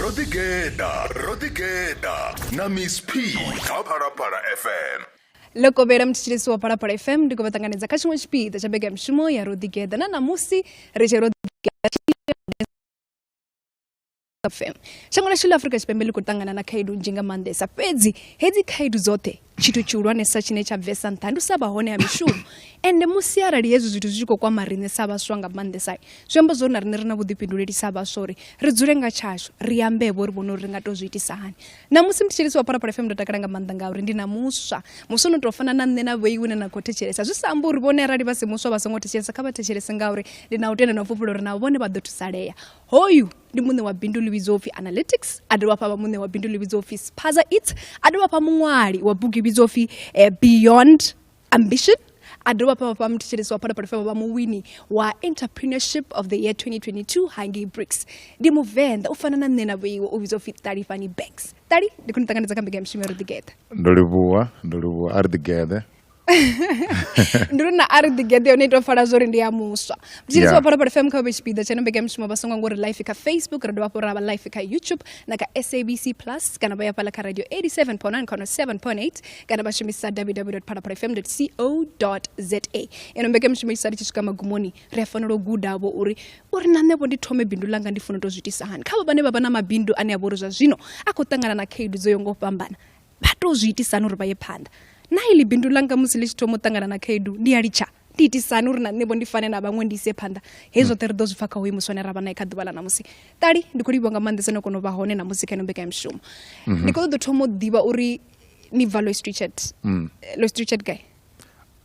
ro ḓigeḓa ro ḓigeḓa na miss p kha phalaphala fm lokovhela mutshitshilisi wa phalaphala fm ndi khou vha ṱanganedza kha tshiṅwe tshipiḓa tsha bega mishumo ya ro ḓigeḓa na ṋamusi ri tshi ro fm shango lashu ḽa afurika tshipembe ḽi khou ṱangana na khaedu nzhi nga maanḓesa fhedzi hedzi khaedu dzoṱhe Tshithu tshihulwanesa tshine tsha bvesa nṱha ndi u sa vha hone ha mishumo ende musi arali hezwi zwithu zwi tshi khou kwama riṋe sa vhaswa nga maanḓesa zwi amba zwori na riṋe ri na vhuḓifhinduleli sa vhaswa uri ri dzule nga tshashu ri ambevho ri vhone uri ri nga tou zwi itisa hani namusi muthetshelesi wa phalaphala fm ndo takala nga maanḓa ngauri ndi na muswa muswa no tou fana na nṋe na vhoiwe ne na khou thetshelesa zwi sa amba uri vhone arali vha si muswa vha songo thetshelesa kha vha thetshelese ngauri ndi na u tenda na u fhufhula uri navho vhone vha ḓo thusalea hoyu ndi muṋe wa bindu ḽi vhidzwa upfi analytics a dovha hafha vha muṋe wa bindu ḽi vhidzwa upfi spaza it a dovha hafha muṅwali wa bugu i vhidzwa upfi eh, beyond ambition a dovha hafha vha muthetshelesi wa phalaphala fema vha muwini wa entrepreneurship of the year 2022 hangei bricks ndi muvenḓa u fana na nṋe na vhoiwe u vhidzwa upfi ṱalifhani banks ṱali ndi khou ni ṱanganedza kha mbekanyamushumo ya roḓigeṱa ndo livhuwa ndo livhuwa a ri ḓigeḓe ndi uri na a ri ḓigeḓe yone ito fala zwori ndi ya muswa mutshilisi wa phalaphala fm kha vhe tshipiḓa tsha mbekanyamushumo vha songo ngori life kha facebook ra dovha hafhu ra vha life kha youtube na kha sabc plus kana vha ya fhala kha radio 87.9 kana 7.8 kana vha shumisa www phalaphala fm co za ino mbekanyamushumo isa ri tshi swika magumoni ri a fanela u gudavho uri uri na nṋevho ndi thome bindu langa ndi funa u to zwi itisa hani kha vha vhane vha vha na mabindu ane a vha uri zwa zwino a khou ṱangana na khaedu dzo yo ngo fhambana vha tou zwi itisani uri vha ye phanḓa na iḽi bindu ḽanga musi ḽi tshi thoma u ṱangana na khaedu ndi a litsha ndi itisani uri na nṋevho ndi fane na vhaṅwe ndi ise phanḓa hei zwoṱhe ri ḓo zwi pfa kha hoyu muswane ra vha nae kha ḓuvha ḽa ṋamusi ṱali ndi khou livhiwa nga maanḓesa no kona u vha hone namusi kha ino mbekanyamushumo mhm. ndi khou ṱoḓa u thoma u ḓivha uri ni bva lois richard mm. eh, lois richard guy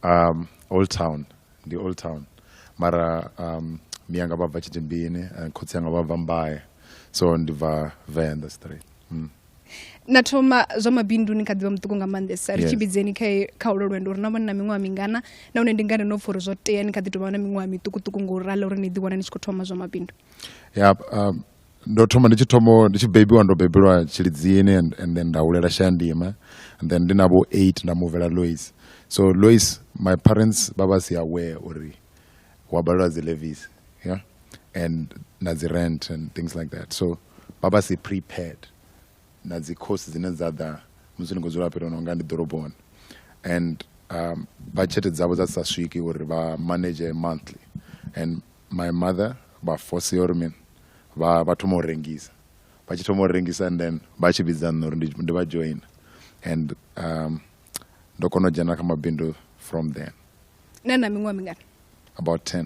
um, old town ndi old town mara um, miyanga vha bva tshitimbini eh, khotsi yanga vha bva mbaye so ndi bva venḓa straight mm. na thoma zwa mabindu ni kha ḓivha muṱuku nga maanḓesa ri tshi vhidzeni kha ulo lwendo uri na vhone na miṅwaha mingana na hone ndi ngani no pfha uri zwo tea ni kha ḓi tovha na miṅwaha miṱukuṱuku ngo u rala uri ni ḓiwana ni tshi khou thoma zwa mabindu ya um, ndo thoma ndi tshi thoma ndi tshi bebiwa ndo bebelwa tshilidzini and, and then nda hulela shandima and then ndi na vho eight nda muvela lois so lois my parents vha vha si aware uri wa balelwa dzi levis yeah and na dzi rent and things like that so vha vha si prepared na dzi course dzine dza ḓa musi ni khou dzula fhethu no nga ndi ḓoroboni and um, budget dzavho dza sa swiki uri vha manage monthly and my mother vha force uri mini vha vha thoma u rengisa vha tshi thoma u rengisa and then vha tshi vhidza nṋe uri ndi vha join and um, ndo kona u dzhena kha mabindu from then nṋe na miṅwaha mingana about 10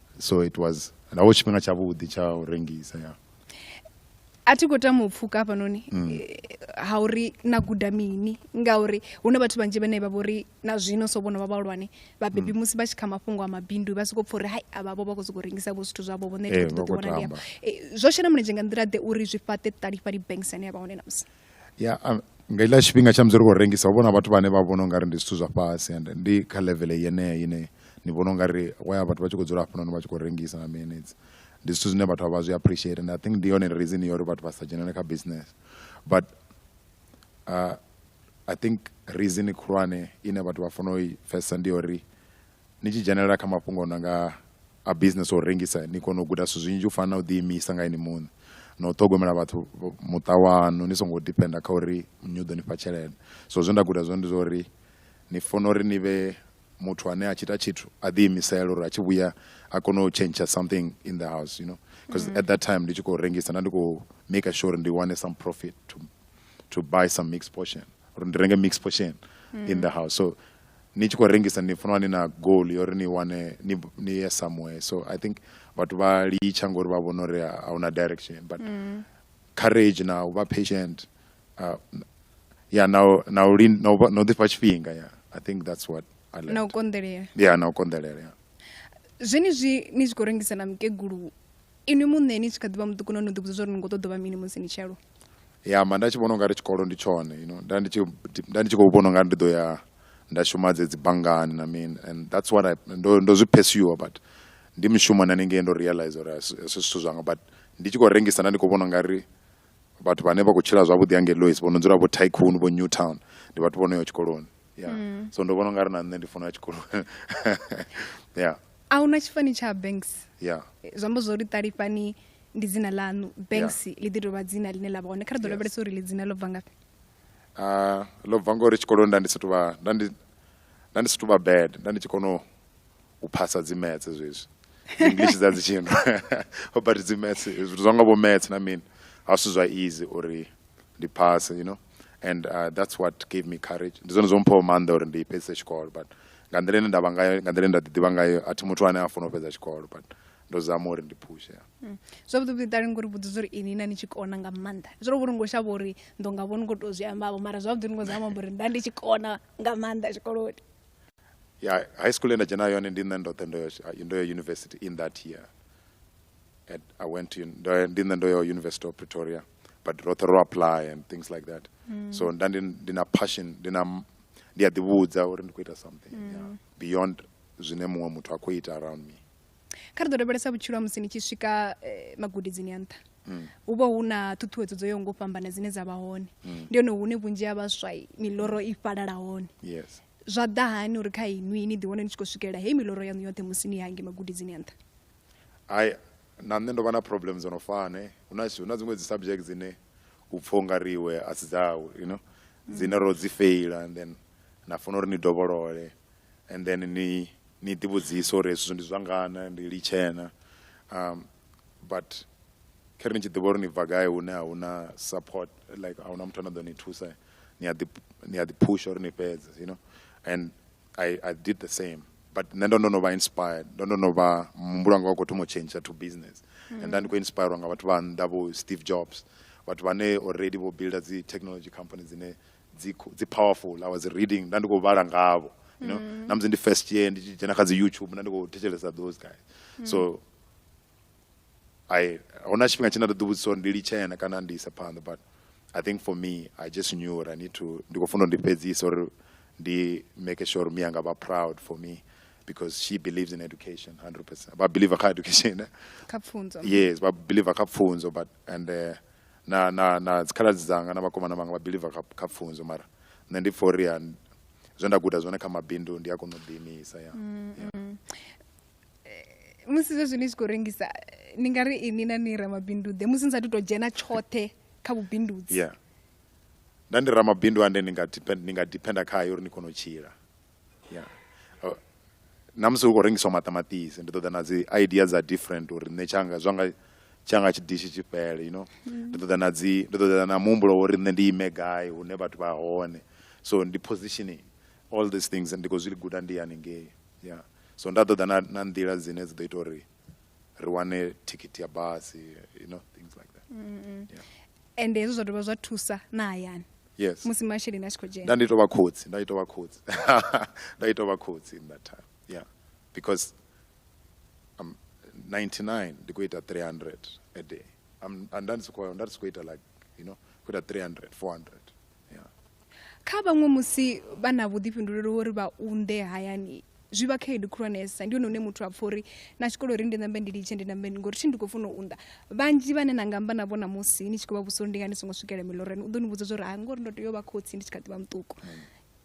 so it was naho tshifhinga tshavhuḓi tsha u rengisa ya a thi khou tama u pfuka hafhanoni mm. eh, ha uri na guda mini ngauri hu na vhathu vhanzhi vhane vha vhori na zwino so vhono vha vhahulwane vhabebi mm. musi vha tshi kha mafhungo a mabindu vha sokou pfha uri hai avhavho vha khou sokou rengisa vho zwithu zwavho vho nṋe eh, ṱoḓiwana ndi eh, zwo shela mulenzhe nga nḓila ḓe uri zwi fhaṱe ṱalifha libanksane ya vha hone na musi ya um, nga ila tshifhinga tsha musi ri khou rengisa hu vhona vhathu vhane vha vhona ungari ndi zwithu zwa fhasi and ndi kha level yeneyo ine ni vhona ungari waya vhathu vha tshi khou dzula hafhanoni vha tshi khou rengisa na minutes ndi zwithu zwine vhathu vha zwi appreciate and i think ndi yone reason yo uri vhathu vha sa dzhenele kha business but uh, i think reason khulwane ine vhathu vha fanela u i pfesa ndi uri Ni tshi dzhenelela kha mafhungo no nga a business o rengisa ni kona u guda zwithu zwinzhi u fana na u ḓi imisa nga ini muṋe na u ṱhogomela vhathu muṱa wanu ni songo depender kha uri nnyi u ḓo ni fha tshelede so zwe nda guda zwone ndi zwa uri ni funa uri ni vhe muthu ane a tshi ita tshithu a ḓi imisela uri a tshi vhuya a kone u tshentsha something in the house you know because mm. at that time ndi tshi khou rengisa nda ndi khou maker sure ndi wane some profit to, to buy some mixed portion uri ndi renge mixed portion mm. in the house so ni tshi khou rengisa ni funa ni na goal yo ri ni wane ni ni ye somewhere so i think vhathu vha litsha ngori vha vhona uri a huna direction but mm. courage na u vha patient uh, ya na na u na u no ḓifha tshifhinga ya i think that's what i learned na u konḓelela ya na u konḓelela ya zwenezwi ni tshi khou rengisa na mukegulu inwi muṋe ni tshi kha ḓivha muṱuku no no ḓivhudza zwa uri ni ngo ṱoḓa vha mini musi ni tshi aluwa ya mba nda tshi vhona ungari tshikolo ndi tshone you know nda ndi tshi nda ndi tshi khou vhona ungari ndi ḓo ya nda shuma dze dzi banngani na mini and that's what I ndo ndo zwi pursue but ndi mushumo na ningei ndo realize uri asi zwithu zwanga but ndi tshi khou rengisa nda ndi khou vhona ungari vhathu vhane vha khou tshila zwavhuḓi hangei Lois vho no dzula vho Tycoon vho Newtown ndi vhathu vho no ya tshikoloni. ya mm. so ndo vhona ungari na nṋe ndi funa ya tshikolo ya a huna tshifani tsha banks ya zwi amba zwo ri ṱalifhani ndi dzina ḽaṋu banks ḽi ḓi tovha dzina ḽine ḽa vha hone kha ri ḓo lavhelesa uri ḽi dzina ḽo bva ngafhi ah, ḽo bva ngori tshikoloni nda ndi sathu vha nda ndi nda ndi sathu vha bad nda ndi tshi kono u phasa dzi metse zwezwi english dza dzi tshino ho but dzi metse zwithu zwa nga vho metse na mini a si zwa easy uri ndi phase you know and uh, that's what gave me courage ndi zwone zwo mphaho maanḓa uri ndi fhedzise tshikolo but nga nḓila ine nda vha ngayo nga nḓila ine nda ḓiḓivha ngayo a thi muthu ane a funa u fhedza tshikolo but ndo zama uri ndi phushe mm. zwavhuḓi vhuḓi ṱali ngori vhudzisa uri ini na ni tshi kona nga maanḓa zwo vhuri ngo shavha uri ndo nga vhoni ngo tou zwi ambavho mara zwavhuḓi ni ngo zama amba uri nda ndi tshi kona nga maanḓa tshikoloni ya high school ye nda dzhena yone ndi nṋe ndoṱhe ndo ndo ya university in that year at, i went to, ndi nṋe ndo ya university of pretoria but roṱhe ro apply and things like that mm. so nda ndi, ndi na passion ndi na ndi a ḓivhudza uri ndi khou ita something mm. yeah. beyond zwine muṅwe muthu a khou ita around me kha ri ḓo lavhelesa vhutshilo ha musi ni tshi swika eh, magudidzini a nṱha mm. hu vha hu na ṱhuṱhuwedzo dzo yaho ngo fhambana dzine dza vha hone mm. ndi hone hune vhunzhi ha vhaswa miloro i fhalala hone yes zwa ḓa hani uri kha inwi ni ḓiwane ni tshi khou swikelela heyi miloro yaṋu yoṱhe musi ni hange magudidzini a nṱha ai Na nṋe ndo vha na problem dzo no fana eh. Hu na hu na dziṅwe dzi subject dzine u pfha ungari iwe a si dzau you know dzine ro dzi feila and then na funa uri ni dovholole and then ni ni ḓi vhudzise uri hezwi zwithu ndi zwa ngana ndi litshe na um but kha ri ni tshi ḓivha uri ni bva gai hune a hu na support like a hu na muthu ane a ḓo ni thusa ni a ḓi ni a ḓi phusha uri ni fhedze you know and I, I did the same but nṋe ndo ndo no vha inspired ndo ndo no vha muhumbulo wanga wa khou thoma u change to business mm. and nda ndi khou inspirwa nga vhathu vha nnḓa vho steve jobs vhathu vhane already vho builda dzi technology company dzine dzi powerful i was reading nda ndi khou vhala ngavho you know mm. namusi ndi first year ndi tshi dzhena kha dzi youtube nda ndi khou thetshelesa those guys mm. so I hona tshifhinga tshine nda ḓi vhudzisa uri ndi litshe na kana ndi isa phanḓa but I think for me I just knew uri I need to ndi khou funa uri ndi fhedzise uri ndi make sure uri miyanga vha proud for me because she believes in education 100% vha believer kha education eh? kha pfunzo yes vha believer kha pfunzo but and uh, na na na dzikhaladzi dzanga na vhakomana vhanga vha believer kha, kha pfunzo mara nṋe ndi for uri zwe nda guda zwone kha mabindu ndi a kona u ḓiimisa ya mm, yeah. mm. musi zwezwi ni tshi khou rengisa ni nga ri ini na ni ramabinduḓe musi ni sathu tou dzhena tshoṱhe kha vhubindudzi yeah nda ndi ramabindu ande ni nga depend ni nga dependa khayo uri ni kone u tshila yeah uh, na musi hu khou rengiswa maṱamaṱisi ndi ṱoḓa na dzi idea dza different uri nṋe tshanga zwanga tshanga tshidishi tshi fhele you know mm. ndi ṱoḓa na dzi ndi ṱoḓa na muhumbulo uri nṋe ndi ime gai hune vhathu vha hone so ndi positioning all these things ndi khou zwi guda ndi haningei yeah so nda ṱoḓa na na nḓila dzine dzi ḓo ita uri ri wane thikhithi ya basi you know things like that mm -hmm. yeah. ende hezwo zwa dovha zwa thusa na hayani yes musi masheleni a tshi khou dzhena nda ndi tou vha khotsi nda tou vha khotsi nda tou vha khotsi in that time yeah because I'm 99 ndi khou ita 300 a day I'm, nda ndi si khou nda ndi si khou ita like you know khou ita 300 400 kha vhaṅwe musi vha na vhuḓifhinduleli uri vha unḓe hayani zwi vha khaedu khulwanesa ndi hone hune muthu a pfha uri na tshikolo uri ndi nambe ndi litshe ndi nambe ngori thi ndi khou funa u unḓa vhanzhi vhane na nga amba navho namusi ni tshi khou vha vhudzisa uri ndi nga ni songo swikela milorani u ḓo ni vhudza zwa uri ha ngori ndo tea u vha khotsi ndi tshi kha ḓi vha muṱuku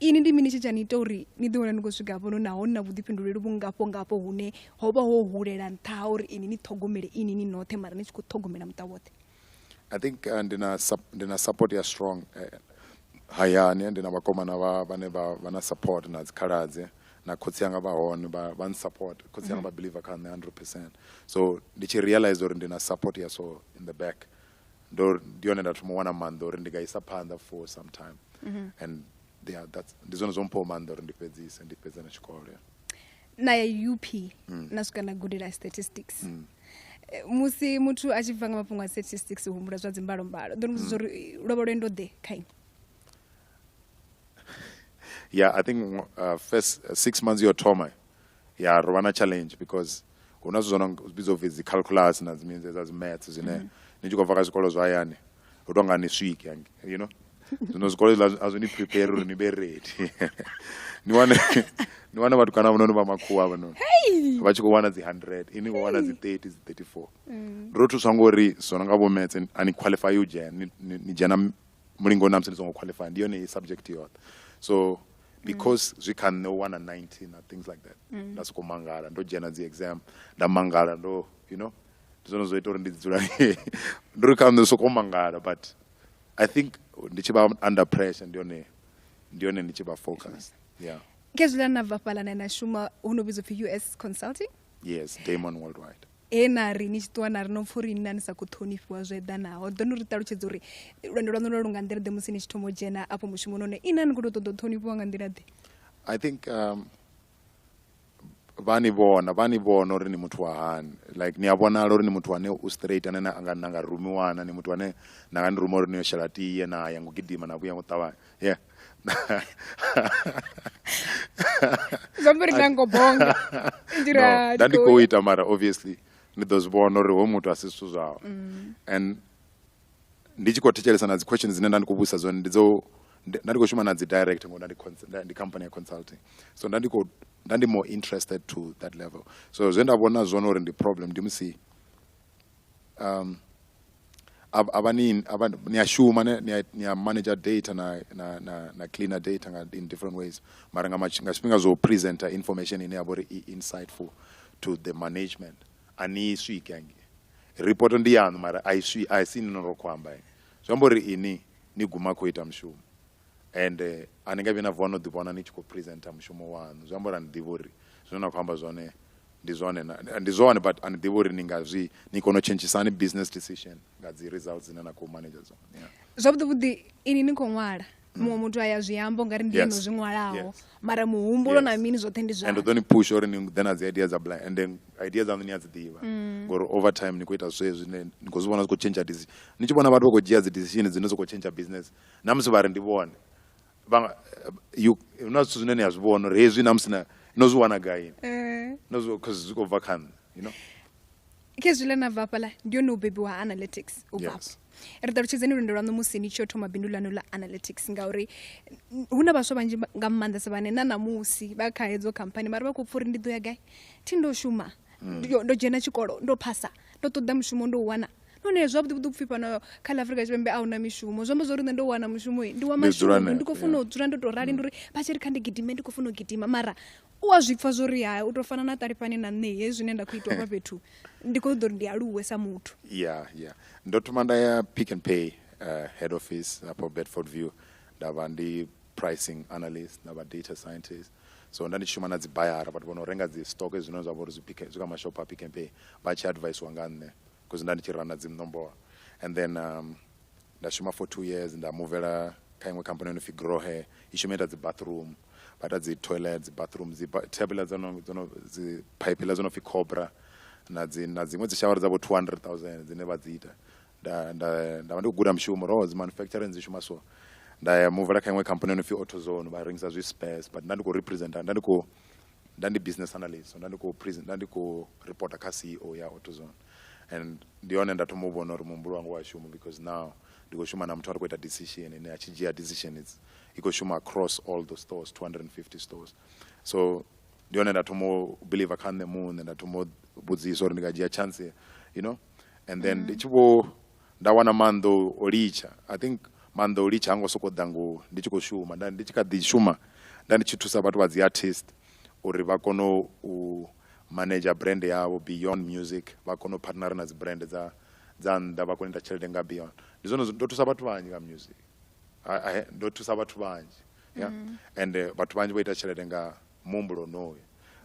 ini ndi mini tshi tsha ni ita uri ni ḓi wana ni khou swika hafhono naho ni na vhuḓifhinduleli vhungafho ngafho hune ho vha ho hulela nṱha ha uri ini ni ṱhogomele ini ni noṱhe mara ni tshi khou ṱhogomela muṱa woṱhe i think uh, ndi na ndi na support ya strong eh, hayani ndi na vhakomana vha vhane vha vha na support na dzikhaladze na khotsi anga vha hone vha vha support khotsi anga mm -hmm. vha believer kha nṋe 100% so ndi tshi realize uri ndi na support ya so in the back ndo ndi yone nda thoma wana maanḓa uri ndi nga isa phanḓa for some time mm -hmm. and yeah, that's ndi zwone zwo mpho maanḓa uri ndi fhedzise ndi fhedze na tshikolo yeah. na ya up mm. na swika na gudela statistics mm. Eh, musi muthu a tshi bva nga mafhungo a statistics u humbula zwa dzimbalombalo ndo muvhudza mm. uri lwo vha lwendo ḓe kha ini yeah i think uh, first uh, six months yo thoma ya ro vha na challenge because hu na zwithu zwo no vhidzwa upfi dzi calculus na dzimidzi dza dzi maths zwine mm. ni tshi khou bva kha zwikolo zwa hayani hu tou nga ni swike you know zwino zwikolo zwiḽa a zwi ni prepare uri ni vhe ready ni wane ni wane vhatukana vhononi vha makhuwa vhononi vha tshi khou wana dzi hundred ini vho wana dzi thirty dzi thirty four mm. ro thuswa ngori zwo no nga vho metse a ni qualify u dzhena ni dzhena mulingoni na musi ni songo qualify ndi yone subject yoṱhe so because zwi kha nṋe u wana 19 na things like that mm. nda sokou mangala ndo dzhena dzi exam nda mangala ndo you know ndi zwone zwo ita uri ndi dzula ndi ri kha nṋe soko mangala but i think ndi tshi vha under pressure ndi yone ndi yone ndi tshi vha focus yeah kezwila na bva fhala na na shuma hu no vhidzwa pfi us consulting yes damon worldwide he na ri ni tshi ṱuwa na ri no pfa uri nna ni sa khou ṱhonifhiwa zwo eḓanaho ḓo ni ri ṱalutshedza uri lwendo lwaṋu lwa lu nga nḓila ḓe musi ni tshi thoma u dzhena afho mushumoni one ina ni khou tou ṱoḓa u ṱhonifhiwa nga nḓila ḓe i think um, vha ni vhona vha ni vhona uri ni muthu wa hani like ni a vhonala uri ni muthu ane u straight ane na nga na nga rumiwana ni muthu ane na nga ni ruma uri ni yo shela tie na ya ngo gidima na vhuya ngo ṱavhanya yeah zambiri na ngo bonga ndira no, ndi khou ita mara obviously ni ḓo zwi vhona uri ho muthu a si zwithu zwawe mm. and ndi tshi khou thetshelesa na dzi question dzine nda ndi khou vhudzisa dzone ndi dzo nda ndi khou shuma na dzi direct ngo nda ndi ndi company ya consulting so nda ndi khou nda ndi more interested to that level so zwe nda vhona zwone uri ndi problem ndi musi um a vha ni a vha ni a shuma ni a manager data na na na na cleaner data nga in different ways mara nga nga tshifhinga zwo presenter information ine ya vha uri i insightful to the management a ni i swiki hangei ripoto ndi yaṋu mara a i swi a si ni no ro khou amba zwi amba uri ini ni guma khou ita mushumo and a ni nga vhi na vuwa no ḓi vhona ni tshi khou presenter mushumo waṋu zwi amba uri a ni ḓivhi uri zwine na khou amba zwone ndi zwone ndi zwone but a ni ḓivhi uri ni nga zwi ni kone u tshentshisa hani business decision nga dzi results dzine na khou manager dzone zwavhuḓi vhuḓi ini ni khou ṅwala muṅwe muthu aya zwi amba ungari ndi eno zwi ṅwalaho mara muhumbulo na mini zwoṱhe ndi zwa and ḓo ni push uri ni ḓe na dzi idea dza blind and then idea dzaṋu ni a dzi ḓivha mm. ngori over time ni khou ita zwe zwine ni khou zwi vhona zwi khou change decision ni tshi vhona vhathu vha khou dzhia dzi decision dzine dzi khou change business na musi vha ri ndi vhone na zwithu zwine ni a zwi vhona uri hezwi na musi no zwi wana gaini eh. no zwi khou zwi khou bva kha nṋe you know khezwi ḽe na bva hafhaḽa ndi yone u bebiwa ha analytics u bva yes. ri ṱalutshedzeni lwendo lwaṋu musi ni tshi yo thoma bindu ḽaṋu ḽa analytics ngauri hu na vhaswa vhanzhi nga maanḓesa vhane na ṋamusi vha kha hedzo khamphani mara vha khou pfha uri ndi ḓo ya gai thi ndo shuma mm. ndo dzhena tshikolo ndo phasa ndo ṱoḓa mushumo ndo u wana nahone hezwo vhuḓi vhuḓi upfhi fhano kha ḽa afrika tshipembe a huna mishumo zwi amba zwa uri nṋe ndo wana mushumo ndi wa mashumo ndi khou funa u dzula ndo tou rali ndi uri vha tshi ri kha ndi gidime ndi khou funa u gidima mara u a zwi pfa zwo ri ha u tou fana na ṱalifhani na nṋe hezwi zwine nda khou itwa hafha fhethu ndi khou ṱoḓa uri ndi aluwe sa muthu ya ya ndo thoma nda ya pick and pay uh, head office hafho bedford view nda vha ndi pricing analyst nda vha data scientist so nda ndi tshi shuma na dzi bayara vhathu vho no renga dzi stock zwine zwa vha uri zwi kha mashopho a pick and pay vha tshi advisiwa nga nṋe because nda ndi tshi rana dzi nomboro and then um, nda shuma for two years nda muvela kha iṅwe khamphani yo no pfi grohe i shuma ita dzi bathroom vha ita dzi toilet dzi bathroom dzi thabela dzo no dzo no dzi phaipela dzo no pfi cobra na dzi na dziṅwe dzi shawara dza vho 200000 dzine vha dzi ita nda nda nda vha ndi khou guda mushumo ro dzi manufacturing dzi shuma so nda ya muvela kha iṅwe khamphani yo no pfi autozone vha rengisa zwi space but nda ndi khou representa nda ndi khou nda ndi business analyst so nda ndi khou nda ndi khou reporter kha ceo ya autozone and ndi hone nda thoma u vhona uri muhumbulo wanga wa shuma because now ndi khou shuma na muthu a ri khou ita decision ine a tshi dzhia decision it's i khou shuma across all the stores 250 stores so ndi hone nda thoma u believer kha nṋe muṋe nda thoma u vhudzisa uri ndi nga dzhia chance you know and then mm. ndi tshi vho Nda wana maanḓa o litsha I think maanḓa o litsha ha ngo sokou ḓa ngo ndi tshi khou shuma nda ndi tshi kha ḓi shuma nda ndi tshi thusa vhathu vha dzi artist uri vha kone u manager brand yavho beyond music vha kone u partner na dzi brand dza dza nnḓa vha kone u ita tshelede nga beyond ndi zwone ndo thusa vhathu vhanzhi nga music ndo thusa vhathu vhanzhi ya mm. and eh, vhathu vhanzhi vho ita tshelede nga muhumbulo onoyo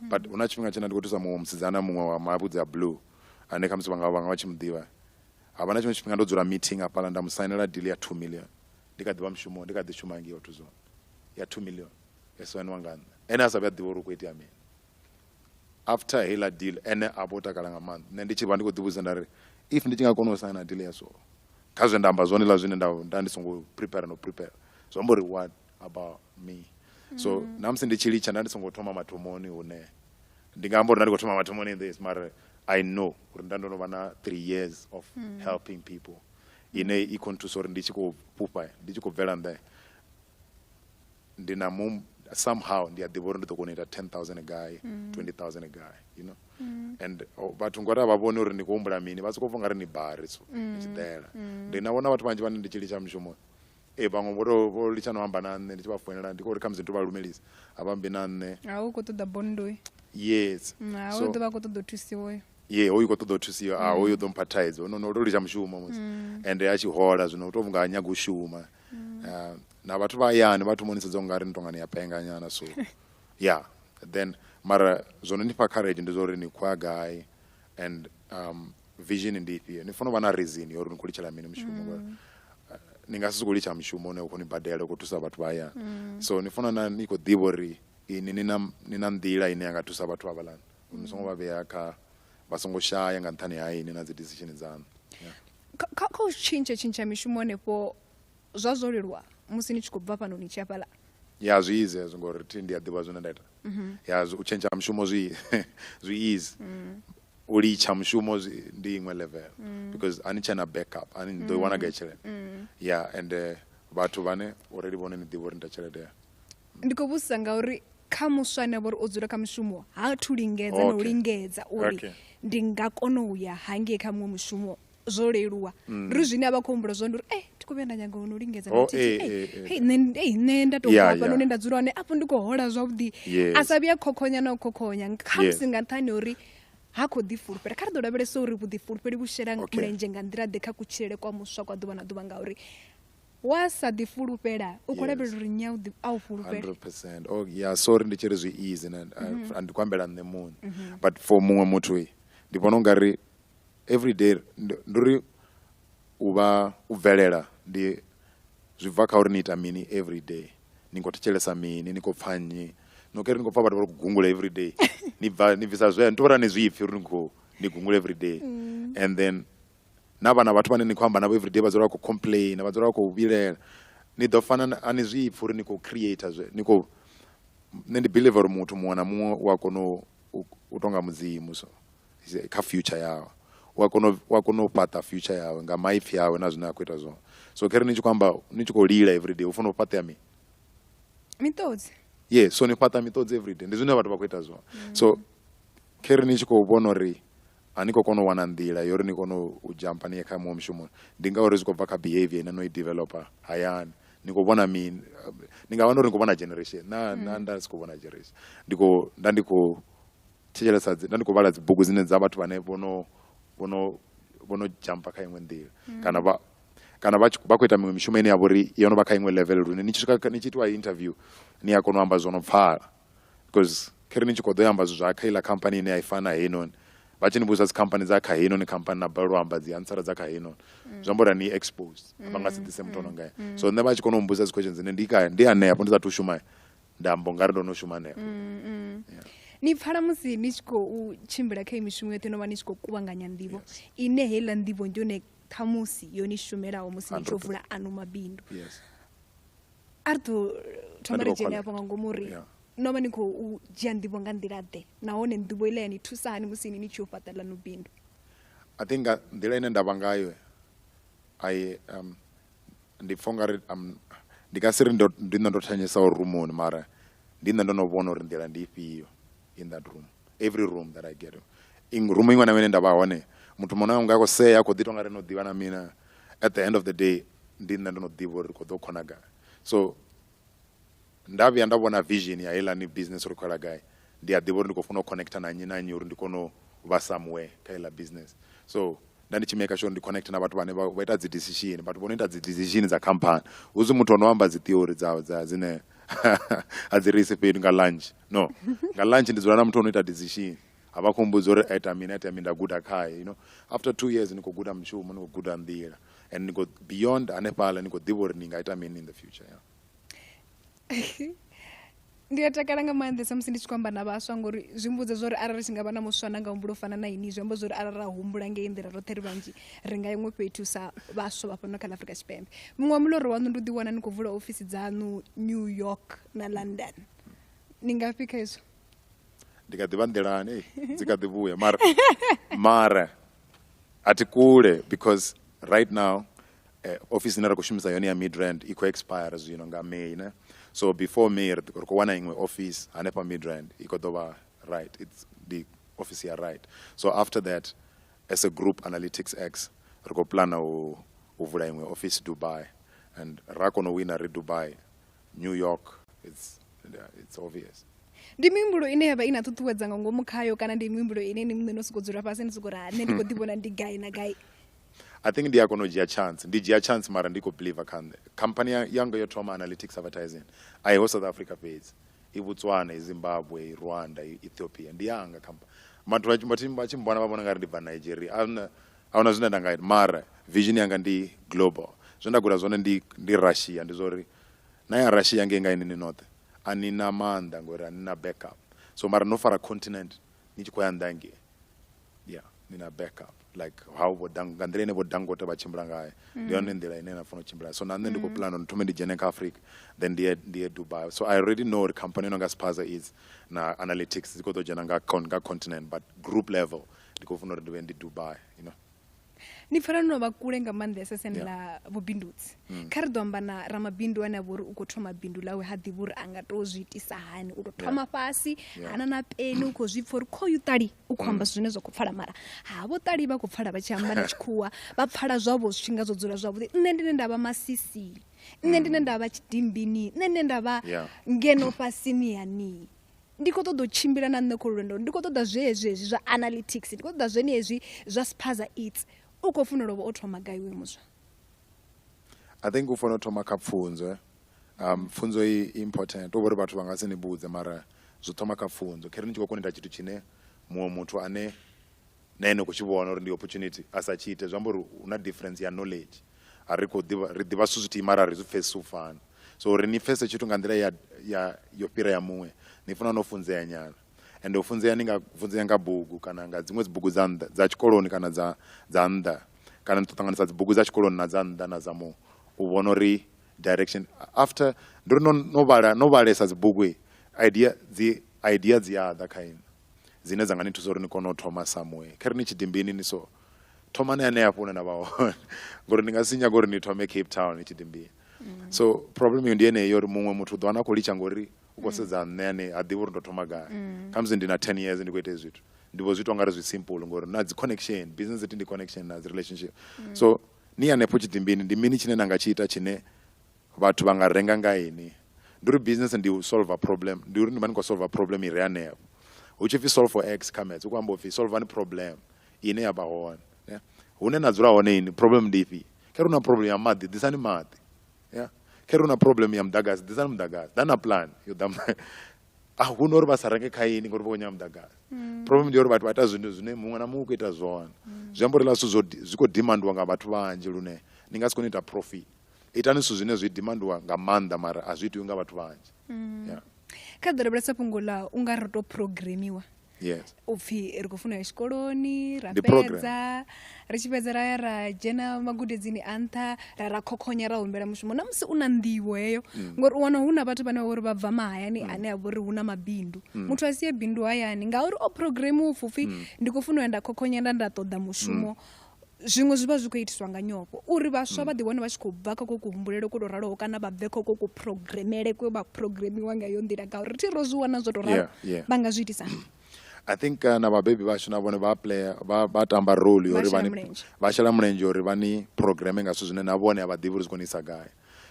mm. but hu na tshifhinga tshine ndi khou thusa muṅwe musidzana muṅwe wa mavhudzi a blue ane khamusi vhanga vhanga vha tshi mu ḓivha ha vha na tshiṅwe tshifhinga ndo dzula meeting hafhaḽa nda mu sainela deal ya two million ndi kha ḓi vha mushumo ndi kha ḓi shuma ngei auto zone ya two million ya soaniwa nga nṋe ene a sa vhuya ḓivha uri u khou itea mini after heiḽa deal ene a vho takala nga maanḓa nṋe ndi tshi vha ndi khou ḓivhudza nda ri if ndi tshi nga kona u saina deal ya so kha zwe nda amba zwone ḽa zwine nda nda ndi songo prepare no prepare zwi amba uri wa about me so mm. namusi ndi tshi litsha nda ndi songo thoma mathomoni hune ndi nga amba uri nda ndi khou thoma mathomoni this mara i know uri nda ndo no vha na three years of mm. helping people ine i khou nthusa uri ndi tshi khou fhufha ndi tshi khou bvela nḓe ndi na mu somehow ndi a ḓivha uri ndi ḓo kona u ita 10000 a guy mm. 20000 a guy you know mm. and oh, vhathu ngori a vha vhoni uri ndi khou humbula mini vha sokou pfa nga ri ni bari so mm. ndi tshi ḓela mm. ndi na vhona vhathu vhanzhi vhane ndi tshi litsha mushumo Ee vhaṅwe vho to vho litsha no amba na nṋe ndi tshi vha foinela ndi khou ri khamusi ndi to vha lumelisa a vha mbi na nṋe a u khou ṱoḓa bondo uyu yes Mm, a So- u ḓo vha a khou ṱoḓa u thusiwa uyu ye hoyu khou ṱoḓa u thusiwa a hoyu ḓo mpha thaidzo no no to litsha mushumo musi ende a tshi hola zwino u to vhunga ha nyaga u shuma Ah, na vhathu vha hayani vha thoma u ni sedza ungari ni tongani ya penga nyana so ya then mara zwo no ni fha courage ndi zwa uri ni khou ya gai and um, vision ndi ifhio ni fanela u vha na reason yo uri ni khou litshela mini mushumo mm. ngori uh, ni nga si sokou litsha mushumo une u khou ni badela u khou thusa vhathu vha hayani mm. so ni fanela na ni khou ḓivha uri ini ni na ni na nḓila ine ya nga thusa vhathu havhalani mm. ni songo vha vhea kha vha songo shaya nga nṱhani ha ini na dzi decision dzaṋu kha u tshintsha tshintsha mishumo hanefho Zwa zwo leluwa musi ni tshi khou bva fhano ni tshi ya fhaḽa? Ya zwi easy hezwo ngori thi ndi a ḓivha zwine nda ita. Mhm. Ya u tshentsha ha mushumo zwi zwi easy. Mm. U litsha mushumo zwi ndi iṅwe level Mm. because a ni tshena back up a ni ni ḓo i wana gai tshelede. Mm. Ya ende vhathu vhane already vhone ni ḓivha uri ni ita tshelede ya. Ndi khou vhudzisa ngauri kha muswa ane avha uri o dzula kha mushumo ha thu lingedza na u Okay. lingedza uri Okay. ndi nga kona u ya hangei kha muṅwe mushumo zwo leluwa mm. ri zwine a vha khou humbula zwone uri e thi khou vhuya nda nyanga ono lingedza oh, eh, eh, eh. nṋe nda tou bva fhano hune nda dzula hone afho ndi khou hola zwavhuḓi a sa vhuya khokhonya na u khokhonya khamusi nga nṱhani uri ha khou ḓifulufhela kha ri ḓo lavhelesa uri vhuḓifulufheli vhu shela mulenzhe nga nḓila ḓe kha kutshilele kwa muswa kwa ḓuvha na ḓuvha ngauri wa sa ḓi fulufhela u khou lavhelela uri nya a u fulufhela oh, ya sorry ndi tshi ri zwi easy mm-hmm. ndi khou ambela nṋe muṋe mm-hmm. but for muṅwe muthu ndi vhona u nga ri Everyday ndi ndi uri u vha u bvelela ndi zwi bva kha uri ni ita mini everyday ni khou thetshelesa mini ni khou pfha nnyi no keri ni khou pfha vhathu vha ri khou gungula everyday ni bva ni bvisa zwe ni tovhela ni zwipfi uri ni khou ni gungula everyday and then na vhana vhathu vhane ni khou amba navho everyday vha dzula vha khou complaina vha dzula vha khou vhilela ni ḓo fana na- a ni zwipfi uri ni khou creator zwe ni khou nṋe ndi believer uri muthu muṅwe na muṅwe u a kona u- u u tonga mudzimu so kha future yawe u a kona u a kona u fhaṱa future yawe nga maipfi yawe na zwine a khou ita zwone so khere ni tshi khou amba ni tshi khou lila everyday u fanela u fhaṱea mini miṱodzi ye so ni fhaṱa miṱodzi everyday ndi zwine vhathu vha khou ita zwone mm. so khere ni tshi khou vhona uri a ni khou kona u wana nḓila yo uri ni kone u jampa ni ye kha muṅwe mushumoni ndi ngauri zwi khou bva kha behavior ine no i developer hayani ni khou vhona mini ni nga wana uri ni khou vhona generation na mm. na nda si khou vhona generation ndi khou nda ndi khou thetshelesa nda ndi khou vhala dzibugu dzine dza vhathu vhane vho no vho no vho no dzhampa kha iṅwe nḓila mm. kana vha kana vha vha khou ita miṅwe mishumo ine ya vha uri yo no vha kha iṅwe level lune ni tshi swika ni tshi itiwa interview ni a kona u amba zwo no pfala because kha ri ni tshi khou ḓo amba zwithu zwa kha iḽa khamphani ine ya i fana heinoni vha tshi ni vhudzisa dzikhamphani dza kha heinoni khamphani na balelwa amba dzi ansara dza kha heinoni mm. zwi amba uri ni exposed vha nga si mm, ḓise muthu ono ngaya so nṋe vha tshi kona u mbudzisa dzi questions dzine ndi kaya ndi hanefho ndi sa thu shuma nda mbo nga ri ndo no shuma hanefho mm, mm. Yeah. ni pfala musi ni tshi khou tshimbila kha mishumo yoṱhe no vha ni tshi khou kuvhanganya nḓivho yes. ine heiḽa nḓivho ndi yone khamusi yo ni shumelaho musi ni tshi vula ano mabindu yes. a ri ḓo thoma ri dzhene afho nga ngomu uri yeah no vha ni khou dzhia nḓivho nga nḓila ḓe nahone nḓivho ile ya ni thusa hani musi ni ni tshi yo fhaṱa ḽa no bindu i think nga nḓila ine nda vha ngayo i um, ndi pfha ungari um, ndi nga si ri ndi nṋe ndo thanyesa uri rumoni mara ndi nṋe ndo no vhona uri nḓila ndi ifhio in that room every room that i get rumu iṅwe na mene nda vha hone muthu muṅwe na muṅwe a khou sea a khou ḓi tonga ri no ḓivha na mina at the end of the day ndi nṋe ndo no ḓivha uri ri khou ḓo khona gai so Nda vhuya nda vhona vision ya heiḽani business uri khou yela gai, ndi a ḓivha uri ndi khou fanela u connecter na nnyi na nnyi uri ndi kone u vha somewhere kha heiḽa business. So nda ndi tshi maker sure uri ndi connecter na vhathu vhane vha ita dzi decision, vhathu vho no ita dzi decision dza khamphani. Hu si muthu o no amba dzi theory dza dza dzine a dzi ri ise fhethu nga lunch, no. Nga lunch ndi dzula na muthu o no ita decision, a vha a khou mmbudza uri a ita mini a ita mini nda guda khae, you know. After two years ni khou guda mushumo, ni khou guda nḓila and ni khou beyond hanefhaḽa ni khou ḓivha uri ni nga ita mini in the future, yeah. ndi a takala nga maanḓesa musi ndi tshi khou amba na vhaswa ngori zwi mbudza zwa uri arali ri tshi nga vha na muswa na nga humbulo fana na ini zwi amba zwa uri arali ra humbula ngei nḓila roṱhe ri vhanzhi ri nga iṅwe fhethu sa vhaswa vha fhano kha ḽa afrika tshipembe muṅwe wa muloro waṋu ndi u ḓiwana ni khou vula ofisi dzaṋu new york na london ni ngafhi kha izwo ndi kha ḓivha nḓilani dzi kha ḓi vhuya mara mara a thi kule because right now eh, office ine ra khou shumisa yone ya midrand i khou expire zwino nga may ne so before may ri khou wana iṅwe office hanefha midrand i khou ḓo vha right its ndi office ya right so after that as a group analytics x ri khou plana u, u vula iṅwe office dubai and ra kona u wina ri dubai new york it's, it's obvious ndi mihumbulo ine yavha i na ṱuṱuwedza nga ngomu khayo kana ndi mihumbulo ine ni muṋe no sokou dzula fhasi ni sokou ri ha nṋe ndi khou ḓi vhona ndi gai na gai I think ndi a kona u dzhia chance ndi dzhia chance mara ndi khou believer kha nṋe khamphani ya- yanga yo thoma analytics advertising a iho south africa fhedzi i botswana i zimbabwe i rwanda i ethiopia ndi yanga khampa vhathu vha tshi- vha tshi- vha tshi mbona vha vhona nga ri ndi bva nigeria a huna- a huna zwine nda nga ita mara vision yanga ndi global zwe nda guda zwone ndi ndi russia ndi zwa uri na ya russia ngei nga ini ni noṱhe a ni na maanḓa ngori a ni na backup so mara no fara continent ni tshi khou ya nnḓa hangei ya ni na backup like how vho dang nga nḓila ine vho dangote vha tshimbila ngayo mm. ndi yone nḓila ine na funa u tshimbila so na nṋe ndi khou mm. plan uri thome ndi dzhene kha africa then ndi ye ndi ye dubai so i already know uri company no nga spaza is na analytics dzi khou ḓo dzhena nga, con, nga continent but group level ndi khou funa uri ndi vhe ndi dubai you know ni pfala no vha kule nga maanḓesa sene yeah. ḽa vhubindudzi mm. kha ri ḓo amba na ramabindu ane a vha uri u khou thoma bindu ḽawe ha ḓivhi uri a nga tou zwi itisa hani u tou thoma yeah. fhasi yeah. hana na peni u khou zwi pfa uri khoyu ṱali u khou amba mm. zwine zwa khou pfala mara ha vho ṱali vha khou pfala vha tshi amba na tshikhuwa vha pfala zwavho zwifhinga zwo dzula zwavhuḓi nṋe ndine nda vha masisi nṋe ndine mm. nda vha tshidimbini nṋe nne nda vha ngeno fhasini ya nii ndi khou ṱoḓa u tshimbila na nṋe kho lwendo ndi khou ṱoḓa zwezwi hezwi zwa analytics ndi khou ṱoḓa zwene hezwi zwa spaza its u khou funa lovha o thoma gai we muswa i think u fanela u thoma kha pfunzo eh? um pfunzo i important to vhori vhathu vha nga si ni vhudze mara zwi thoma kha pfunzo khere ni tshi khou koneta tshithu tshine muṅwe muthu ane na ene u khou tshi vhona uri ndi opportunity a sa tshi ite zwi amba uri hu na difference ya knowledge a ri khou ḓivha ri ḓivha zwithu zwithihi mara a ri zwi pfhesesi u fana so uri ni pfhesese tshithu nga nḓila ya ya yo fhira ya muṅwe ni funa no funzea nyana ende u funzea ni nga funzea nga bugu kana nga dziṅwe dzi bugu dza nnḓa dza tshikoloni kana dza dza nnḓa kana ni to ṱanganisa dzi bugu dza tshikoloni na dza nnḓa na dza mu u vhona uri direction after ndi uri no no vhala no vhalesa dzi bugu idea dzi idea dzi a ḓa kha inwi dzine dza nga ni thusa uri ni kone u thoma somewhere kha ri ni tshidimbini ni so thomani hanea fhune na vha hone ngori ni nga si nyaga uri ni thome cape town ni tshidimbini mm. so problem yo ndi yeneyo uri muṅwe muthu u ḓo wana a khou litsha ngori u khou mm. sedza nṋe ane a ḓivha uri ndo thoma gai mm. khamusi ndi na ten years ndi khou ita zwithu ndi vho zwi to ngari zwi simple ngori na dzi connection business ndi connection na dzi relationship so ni hanefho tshidimbini ndi mini tshine na nga tshi ita tshine Vhathu vha nga renga nga ini? Ndi uri business ndi u solver problem, ndi uri ni vha ni khou solver problem i re hanefho. Hu tshi pfi solve for X kha maths, hu khou amba u pfi solvani problem ine ya vha hone. Hune na dzula hone ini, problem ndi ifhio? Kha re hu na problem ya maḓi, ḓisani maḓi. Kha re hu na problem ya muḓagasi, ḓisani muḓagasi. Ḓa na plan yo ḓa A hu na uri vha sa renge kha ini ngauri vha khou nyaga muḓagasi. Problem ndi ya uri vhathu vha ita zwithu zwine muṅwe na muṅwe u khou ita zwone. Zwi amba uri hezwiḽa zwithu zwi khou demandiwa nga vhathu vhanzhi lune ni nga si kone u ita profit. itani zwithu zwine zwi dimandiwa nga maanḓa mara a zwi itiwi nga vhathu vhanzhi mm. yeah. kha ḓo lavhelesa fhungo ḽa u nga ri to programiwa yes upfi ri khou funa ya tshikoloni ra fhedza ri tshi fhedza ra ya ra dzhena magudedzini a nṱha ra ra khokhonya ra humbela mushumo na musi u na nḓivho heyo mm. ngori u wana hu na vhathu vhane vha vhori vha bva mahayani mm. ane a vhori hu na mabindu mm. muthu a sie bindu hayani ngauri o programiwa upfi ndi khou funa u ya nda khokhonya nda nda ṱoḓa mushumo Zwiṅwe zwi vha zwi khou itiswa nga nyofho uri vhaswa vha ḓiwane vha tshi khou bva kha kho kuhumbulele kwo tou raloho kana vha bve kha kho ku programmele kwe vha programmiwa nga yo nḓila ngauri thi ro zwi wana zwo tou ralo vha nga zwi itisa I think uh, na vhabebi vhashu na vhone vha player vha vha tamba role uri vha vha shela mulenzhe uri vha ni programme nga zwithu zwine na vhone a vha ḓivhi uri zwi konisa gai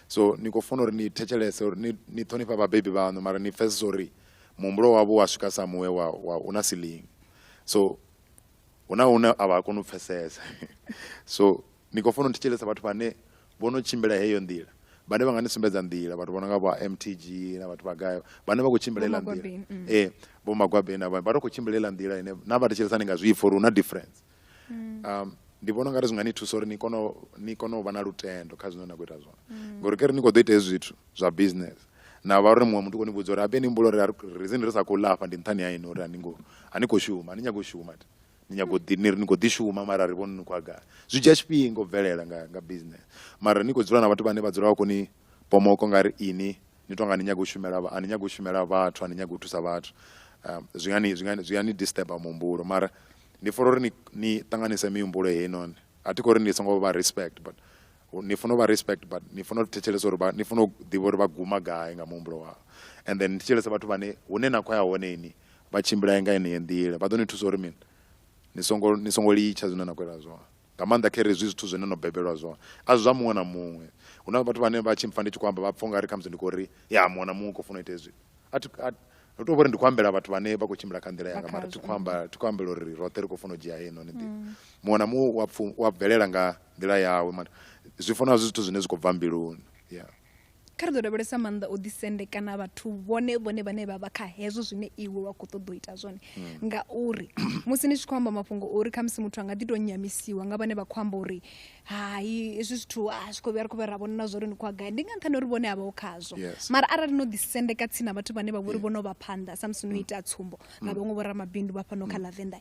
so ni khou funa uri ni thetshelese uri ni ni ṱhonifha vhabebi vhaṋu mara ni pfesesa uri muhumbulo wavho wa swika sa muwe wa wa una silingi so hu na hune a vha koni u pfesesa so ni khou fanela u thetshelesa vhathu vhane vho no tshimbila heyo nḓila vhane vha nga ni sumbedza nḓila vhathu vho no nga vha mtg na vhathu vha gai vhane vha khou tshimbila ila nḓila mm. ee eh, vho magwabeni avha vha to khou tshimbila ila nḓila ine na vha thetshelesa ni nga zwi ipfa uri hu na difference mm. um ndi vhona ungari zwi nga ni thusa uri ni kone ni kone u vha na lutendo kha zwine na khou ita zwone mm. ngori kere ni khou ḓo ita hezwi zwithu zwa business na vha uri muṅwe muthu koni vhudza uri habe ni humbula uri reason ri sa khou ḽa afha ndi nṱhani ha ini uri ani ngo ani khou shuma ni nyago u shuma ni nyago ḓi ni ri ni khou ḓi shuma mara ri vhoni ni khou agala zwi dzhia tshifhinga u bvelela nga nga business mara ni khou dzula na vhathu vhane vha dzula vha koni pomoko nga ri ini ni tonga ni nyago u shumela ani nyago u shumela vhathu ani nyago u thusa vhathu um, zwi nga ni zwi nga zwi nga ni disturb muhumbulo mara ndi fora uri ni ni ṱanganise mihumbulo heinoni a thi khou ri ni songo vha respect but ni funa u vha respect but ni funa u thetshelesa uri ni funa u ḓivha uri vha guma gai nga muhumbulo wavho and then ni thetshelesa vhathu vhane hune na khou ya hone ini vha tshimbila nga yeneyo nḓila vha ḓo ni thusa uri mini ni songo ni songo litsha zwine na khou ita zwone nga maanḓa kha ri zwi zwithu zwine no bebelwa zwone a zwi zwa muṅwe na muṅwe hu na vhathu vhane vha tshi mpfa ndi tshi khou amba vha pfha ungari khamusi ndi khou ri ya muṅwe na muṅwe u khou funa u ita hezwi a thi a ri to vhori ndi khou ambela vhathu vhane vha khou tshimbila kha nḓila yanga mara thi khou amba thi khou ambela uri roṱhe ri khou funa u dzhia heinoni nḓila muṅwe na muṅwe wa pfu wa bvelela nga nḓila yawe mara zwi funa zwi zwithu zwine zwi khou bva mbiluni ya kha ri ḓo lavhelesa maanḓa o ḓisendekana vhathu vhone vhone vhane vha vha kha hezwo zwine iwe wa khou ṱoḓa u ita zwone ngauri musi ni tshi khou amba mafhungo ori khamusi muthu a nga ḓi tou nyamisiwa nga vhane vha khou amba uri hai hezwi zwithu a zwi khou vhuya ri khou vha ra vhona na zwa uri ni khou gai ndi nga nṱhani uri vhone a vhaho khazwo mara arali no ḓisendeka tsini na vhathu vhane vha vho ri vhono vha phanḓa samusi no mm. ita tsumbo mm. na vhaṅwe vhoramabindu vha fhano kha mm. lavenda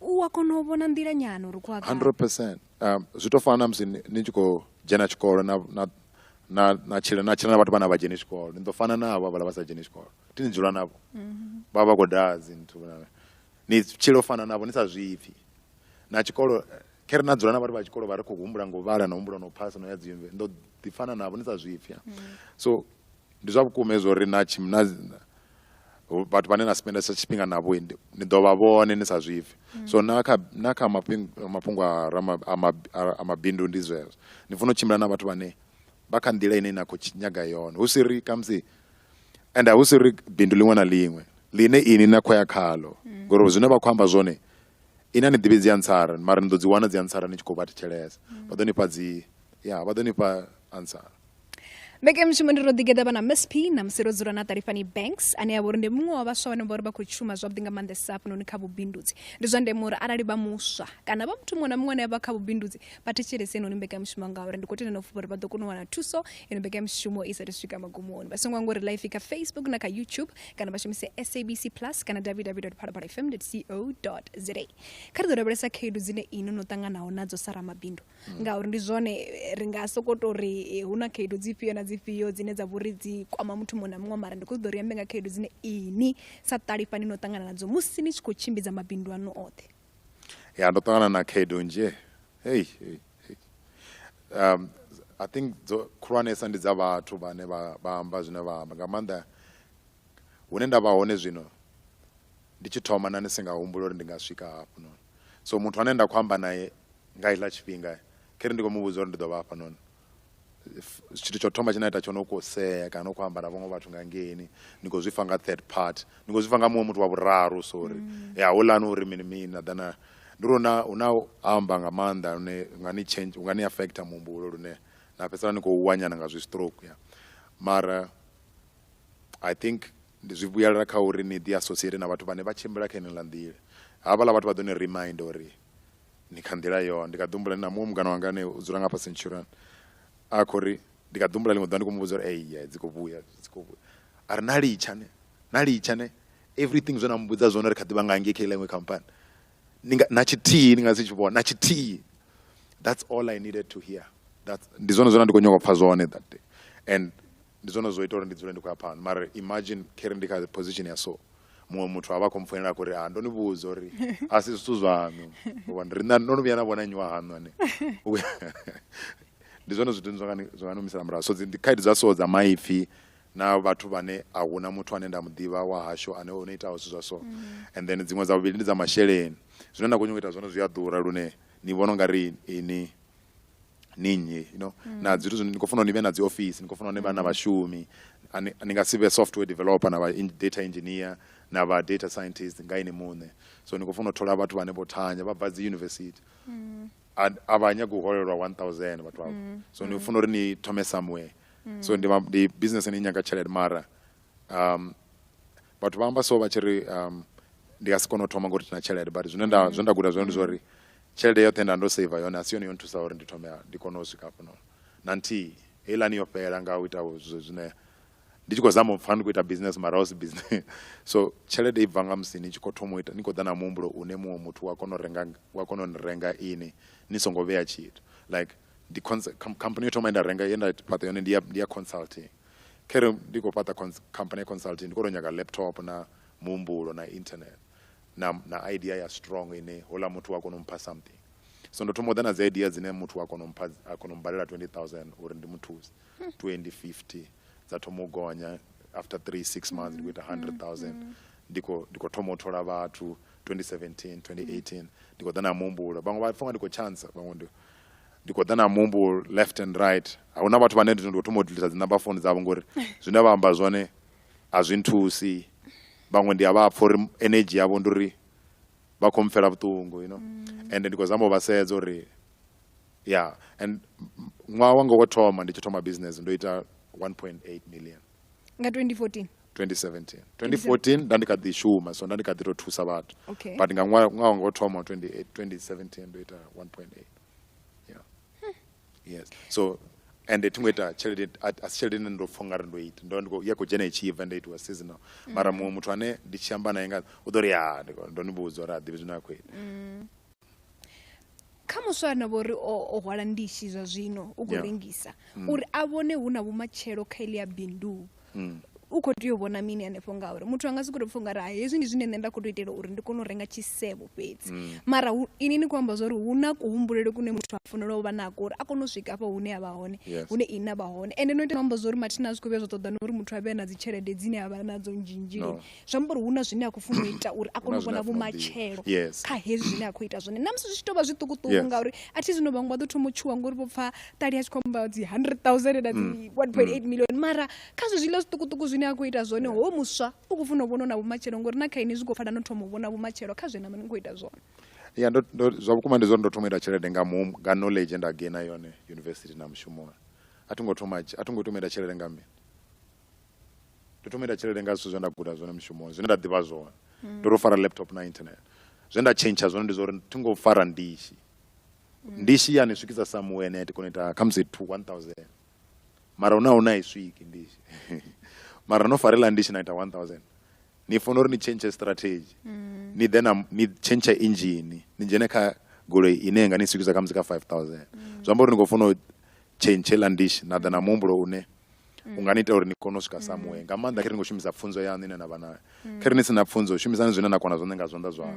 u a kona u vhona nḓila nyana uri khou a 100 percent um, zwi tou fana na musi ni tshi khou dzhena tshikolo na na na tshila na tshila na vhathu vhana vha dzheni tshikolo ni ḓo fana na havho vhala vha sa dzheni tshikolo ti ni dzula navho mm-hmm. vha vha khou daa dzinthu ni tshilo fana navho ni sa zwipfi na tshikolo khe ri na dzula na vhathu vha tshikolo vha ri khou humbula ngo vhala na humbula no phasa no ya dzimve ndo ḓifana navho ni sa zwipfya mm. so ndi zwa vhukuma hezwo ri na tshimna vhathu vhane na spendesa tshifhinga navho ni ḓo vha vhone ni sa zwipfhe mm. so na kha na kha mafhungo a mabindu ndi zwezwo ni funa u tshimbila na vhathu vhane vha kha nḓila ine na khou nyaga yone hu si ri khamusi and hu si ri bindu ḽiṅwe na ḽiṅwe ḽine ini na khou ya khalo mm. ngori zwine vha khou amba zwone Ini a ni ḓivhi dzi ansara mara ni ḓo dzi wana dzi ansara ni tshi khou vha thetshelesa. Mm. Vha ḓo ni fha dzi ya vha ḓo ni fha ansara. Mbekanyamushumo ndi ro ḓigeḓa vha na msp na musi ro dzula na Ṱalifhani Banks ane a vha uri ndi muṅwe wa vhaswa vhane vha uri vha khou shuma zwavhuḓi nga maanḓesa hafhanoni kha vhubindudzi ndi zwa ndeme uri arali vha muswa kana vha muthu muṅwe na muṅwe ane a vha kha vhubindudzi vha thetshelese inoni mbekanyamushumo ngauri ndi khou tenda na u fhufha uri vha ḓo kona u wana thuso ino mbekanyamushumo i saathu swika magumoni vha songo anga uri life kha facebook na kha youtube kana vha shumise sabc plus kana www phalaphala fm co za kha ri ḓo lavhelesa khaedu dzine ino no ṱanganaho nadzo sa ramabindu mm. ngauri ndi zwone eh, ri nga soko to ri eh, hu na khaedu dzifhio na dzifhio dzine dza vhori dzi kwama muthu muṅwe na muṅwe mara ndi khou ṱoḓa uri ambe nga khaedu dzine ini sa ṱalifhani no ṱangana nadzo musi ni tshi khou tshimbidza mabindu ano oṱhe ya ndo ṱangana na khaedu nzhe hei um i think dzo khulwanesa ndi dza vhathu vhane vha vha amba zwine vha amba nga maanḓa hune nda vha hone zwino ndi tshi thoma na ni si nga humbula uri ndi nga swika hafho noni so muthu ane nda khou amba naye nga iḽa tshifhinga khere ndi khou mu vhudza uri ndi ḓo vha hafha noni tshithu tsho thoma tshine a ita tsho no kho sea kana u khou amba na vhaṅwe vhathu nga ngeni ni khou zwifha nga third part ni khou zwifha nga muṅwe muthu wa vhuraru sorry mm. ya houḽani uri mini mini na ḓana ndi uri na hu na amba nga maanḓa lune nga ni change nga ni affect muhumbulo lune na fhedzisela ni khou wanyana nga zwi stroke ya mara i think ndi zwi vhuyelela kha uri ni ḓi associate na vhathu vhane vha tshimbila kha ine ḽa nḓila havhaḽa vhathu vha ḓo ni remind uri ni kha nḓila yo ndi kha ḓi humbula na muṅwe mungana wanga ane u dzula nga fhasi ntshurani a khou ri ndi kha ḓi humbula ḽiṅwe ḓuvha ndi khou mu vhudza uri eyi dzi khou vhuya dzi khou vhuya a ri na litsha ne na litsha ne everything zwe na mu vhudza zwone ri kha ḓi vha nga ngei kha iḽa iṅwe khamphani ni nga na tshithihi ni nga si tshi vhona na tshithihi that's all i needed to hear that ndi zwone zwine ndi khou nyanga u pfha zwone that day and Ndi zwone zwo ita uri ndi dzule ndi khou ya phanḓa mara imagine kheri ndi kha position ya so muṅwe muthu a vha khou mpfoinela a khou ri ha ndo ni vhudza uri a si zwithu zwaṋu uvhona ri ndo no vhuya na vhona nnyi wa haṋu ane ndi zwone zwithu zwa nga zwa nga ni humisela murahu so dzi ndi khaedu dza so dza maipfhi na vhathu vhane a huna muthu ane nda mu ḓivha wa hashu ane o no itaho zwithu zwa so and then dziṅwe dza vhuvhili ndi dza masheleni zwine na khou nyanga u ita zwone zwi a ḓura lune ni vhona u nga ri ini ni nnyi you know mm. na zwithu zwine ni khou funa ni vhe na dzi office ni khou funa ni vha na vhashumi ni nga si vhe software developer na vha data engineer na vha data scientist nga ini muṋe so ni khou funa u thola vhathu vhane vho thanya vha bva dzi university mm. a vha nyagi u holelwa 1000 vhathu avho mm. so ni funa uri ni thome somewhere so ndi business ni nyaga tshelede mara um vhathu vha amba so vha tshi ri um ndi nga si kone u thoma ngori tina tshelede but zwine nda zwe nda guda zwone ndi zwa uri tshelede yoṱhe nda ndo saver yone a si yone yo nthusa uri ndi thome ndi kone u swika hafhano na nthihi heiḽani yo fhela nga u ita zwine ndi tshi khou zama u pfha ndi khou ita business mara husi business so tshelede i bva nga musi ni tshi khou thoma u ita ni khou ḓa na muhumbulo une muṅwe muthu wa kona u renga wa kona u ni renga ini ni songo vhea tshithu like ndi company yo thoma ye nda renga ye nda fhaṱa yone ndi ya ndi ya consulting khere ndi khou fhaṱa company consulting ndi khou tou nyaga laptop na muhumbulo na internet na, na idea ya strong ine hola muthu wa kona u mpha something so ndo thoma u ḓa na dzi idea dzine muthu wa kona u mpha a kona u mbalela 20000 uri ndi muthuse 2050 dza thoma u gonya after 3 6 months ndi khou ita 100000 ndi khou ndi khou thoma u thola vhathu 2017 2018 ndi khou ḓa na muhumbulo vhaṅwe vha pfa nga ndi khou chance vhaṅwe ndi ndi khou ḓa na muhumbulo left and right a huna vhathu vhane ndi ndo thoma u dilisa dzi number phone dzavho ngori zwine vha amba zwone a zwi nthusi vhaṅwe ndi a vha pfha uri energy yavho ndi uri vha khou mpfela vhuṱungu you know mm. and ndi khou zama u vha sedza uri ya and ṅwaha wanga wo thoma ndi tshi thoma business ndo ita 1.8 million nga 2014 2017 2014 nda ndi kha ḓi shuma so nda ndi kha ḓi tou thusa vhathu but nga ṅwaha wanga wo thoma 2017 ndo ita 1.8 yes so ende thi ngo ita tshelede a a si tshelede ine ndo pfha ungari ndo ita ndo vha ndi khou- ya khou dzhena itshi bva nda itiwa seasonal mara muṅwe muthu ane ndi tshi amba naye nga u ḓo ri ya ndi khou- ndo ni vhudza uri a ḓivhi zwine a khou ita kha muswa a no vho ri o o hwala ndishi zwa zwino u khou Yeah. rengisa uri a vhone hu na vhumatshelo kha ili ya bindu mm. u khou tea u vhona mini hanefho ngauri muthu anga si khou tou pfha ungari hai hezwi ndi zwine nṋe nda khou tou itela uri ndi kone u renga tshisevho fhedzi mm. mara ini ni khou amba zwa uri hu na kuhumbulele kune muthu a fanela u vha nako uri a kone u swika afha hune a vha hone hune ini a vha hone ende no ita amba zwa uri mathina a zwi khou vhuya zwa ṱoḓa na uri muthu a vhe na dzi tshelede dzine a vha nadzo nzhinzhili zwi amba uri hu na zwine a khou funa u ita uri a kone u vhona vhumatshelo kha hezwi zwine a khou ita zwone na musi zwi tshi tou vha zwiṱukuṱuku ngauri a thi zwino vhaṅwe vha ḓo thoma u tshuwa ngori vho pfa ṱali a tshi khou amba dzi hundred thousand na dzi mm. one point eight mm. million mara kha zwe zwiḽa zwiṱukuṱuku zwine a khou ita zwone ho muswa u khou funa u vhona na vhumatshelo ngori na kha ini zwi khou pfala no thoma u vhona vhumatshelo kha zwe na mani khou ita zwone ya ndo zwa vhukuma ndi zwori ndo thoma ita tshelede nga mu nga knowledge nda gaina yone university na mushumoni a thi ngo thoma a thi ngo thoma ita tshelede nga mini ndo thoma ita tshelede nga zwithu zwe nda guda zwone mushumoni zwine nda ḓivha zwone ndo tou fara laptop na internet zwe nda tshentsha zwone ndi zwa uri thi ngo fara ndishi ndishi ya ni swikisa somewhere ne ya ti kona u ita khamusi two one thousand mara hune a huna i swiki ndishi mara no farela ndishi na ita one thousand ni fanela uri ni tshentshe strategy ni ḓe na ni tshentshe injini ni dzhene kha goloi ine ya nga ni swikisa khamusi kha five thousand zwi amba uri ni khou fanela u tshentshe la ndishi na ḓa na muhumbulo une u nga ni ita uri ni kone u swika samuwe nga maanḓa khe ri ngo shumisa pfunzo yaṋu ine na vha nayo khe ri ni si na pfunzo shumisani zwine na kona zwone nga zwanḓa zwaṋu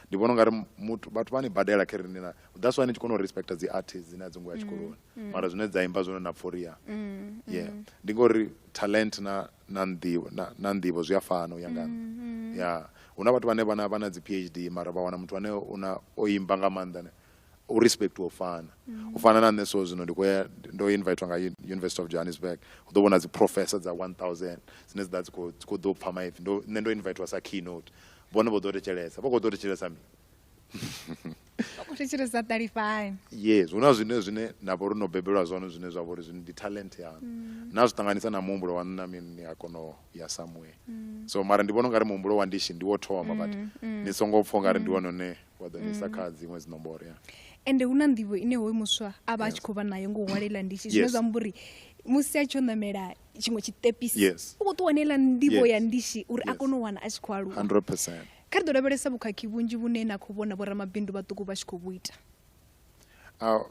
ndi vhona ungari muthu vhathu vha ni badela khe ri ni na that's why ni tshi kona u respecta dzi artist dzine a dzi ngo ya tshikoloni mara zwine dza imba zwone na pforiya yeah ndi ngori talent na na nḓivho na, na nḓivho zwi a fana u ya nga nṋe ya hu na vhathu vhane vha na vha na dzi phd mara vha wana muthu ane una o imba nga maanḓa ne u respect u fana u fana na nṋe so zwino ndi khou ya ndo invitwa nga Uni- university of johannesburg u ḓo vhona dzi professor dza 1000 dzine dzi ḓa dzi khou- dzi khou ḓo pfa maipfi Ndo- nṋe ndo invitwa sa keynote vhone vho ḓo thetshelesa vha khou ḓo thetshelesa mini vha khou thetshelesa ṱalifhani yes hu na zwine zwine na vha uri no bebelwa zwone zwine zwa vha uri zwino ndi talent yanu na zwi ṱanganisa na muhumbulo waṋu na mini ni a kona u ya somewhere so mara ndi vhona ungari muhumbulo wa ndishi ndi wo thoma but ni songo pfha ungari ndi wone une wa ḓo nisa mm. kha dziṅwe dzinomboro ya ende hu na nḓivho ine hoyu muswa a vha a tshi khou vha nayo ngo hwalela ndishi zwine zwa mbo uri musi a tshi o ṋamela tshiṅwe tshiṱepisi u khou ṱuwa neiḽa nḓivho ya ndishi uri a kone u wana a tshi khou aluwa kha ri ḓo lavhelesa vhukhakhi vhunzhi vhune na khou vhona vhoramabindu vhaṱuku vha tshi khou vhu ita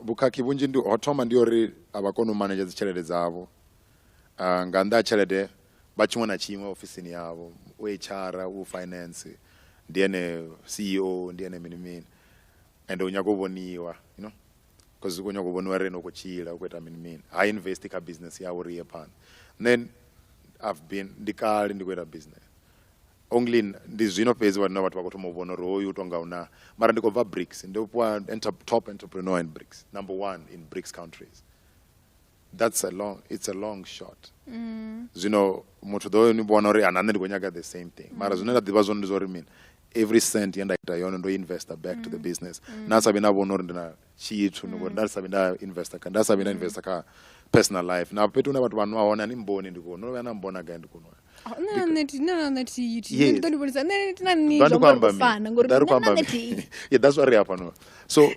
vhukhakhi vhunzhi ndi ho thoma ndi uri a vha koni u manedzha dzitshelede dzavho uh, nga nnḓa ha tshelede vha tshiṅwe na tshiṅwe ofisini yavho u hr u finance ndi ene ceo ndi ene mini mini and u nyaga u vhoniwa you know because u khou nyaga u vhoniwa ri ene u khou tshila u khou ita mini mini ha invest kha business yawe uri iye phanḓa then i've been ndi kale ndi khou ita business only ndi zwino fhedzi vhana vhathu vha khou thoma u vhona uri hoyu u tou nga una mara ndi khou bva brics ndi fhiwa top entrepreneur in brics number one in brics countries that's a long it's a long shot mm. zwino muthu ḓo ni vhona uri ana nṋe ndi khou nyaga the same thing mara mm. zwine nda ḓivha zwone ndi zwa uri mini every cent ye nda ita yone ndo investor back to the mm. business nda sa vhi na vhona uri ndi na tshithu ngori nda sa vhi nda investor kha nda sa vhi nda investor kha personal life na fhethu hune vhathu vha nwa hone a ni mboni ndi kuno no vhuya na mbona gai ndi kuno that's what ri hafhano so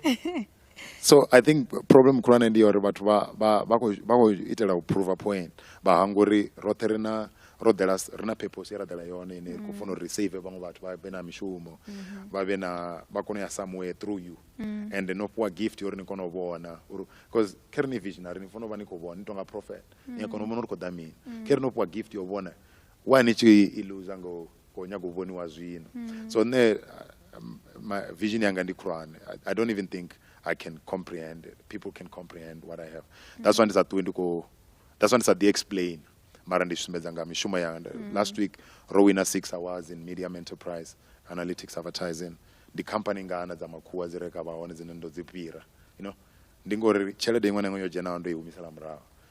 so i think problem khulwane ndi ya uri vhathu vha vha vha khou vha khou itela u prova point vha hanga uri roṱhe ri na ro ḓela ri na purpose ye ra ḓela yone ine khou funa uri save vhaṅwe vhathu vha vhe na mishumo mm-hmm. vha vhe na vha kone u ya somewhere through you mm. and no fhiwa gift yo uri ni kone u vhona uri because khe ri ni visionary ni funa u vha ni khou vhona ni tonga prophet ni a kona u vhona uri khou ḓa mini mm. khe ri no fhiwa gift yo vhona why ni tshi i loser ngo go nyaga u vhoniwa zwino mm. so nṋe my vision yanga ndi khulwane I, i don't even think i can comprehend it. people can comprehend what i have mm. that's why ndi sa ṱuwi ndi khou that's why ndi sa ḓi explain mara ndi sumbedza nga mishumo yanga mm. last week ro wina six awards in medium enterprise analytics advertising ndi company ngana dza makhuwa dzi reka vha hone dzine ndo dzi fhira you know ndi ngori tshelede iṅwe na iṅwe yo dzhenaho ndo i humisela murahu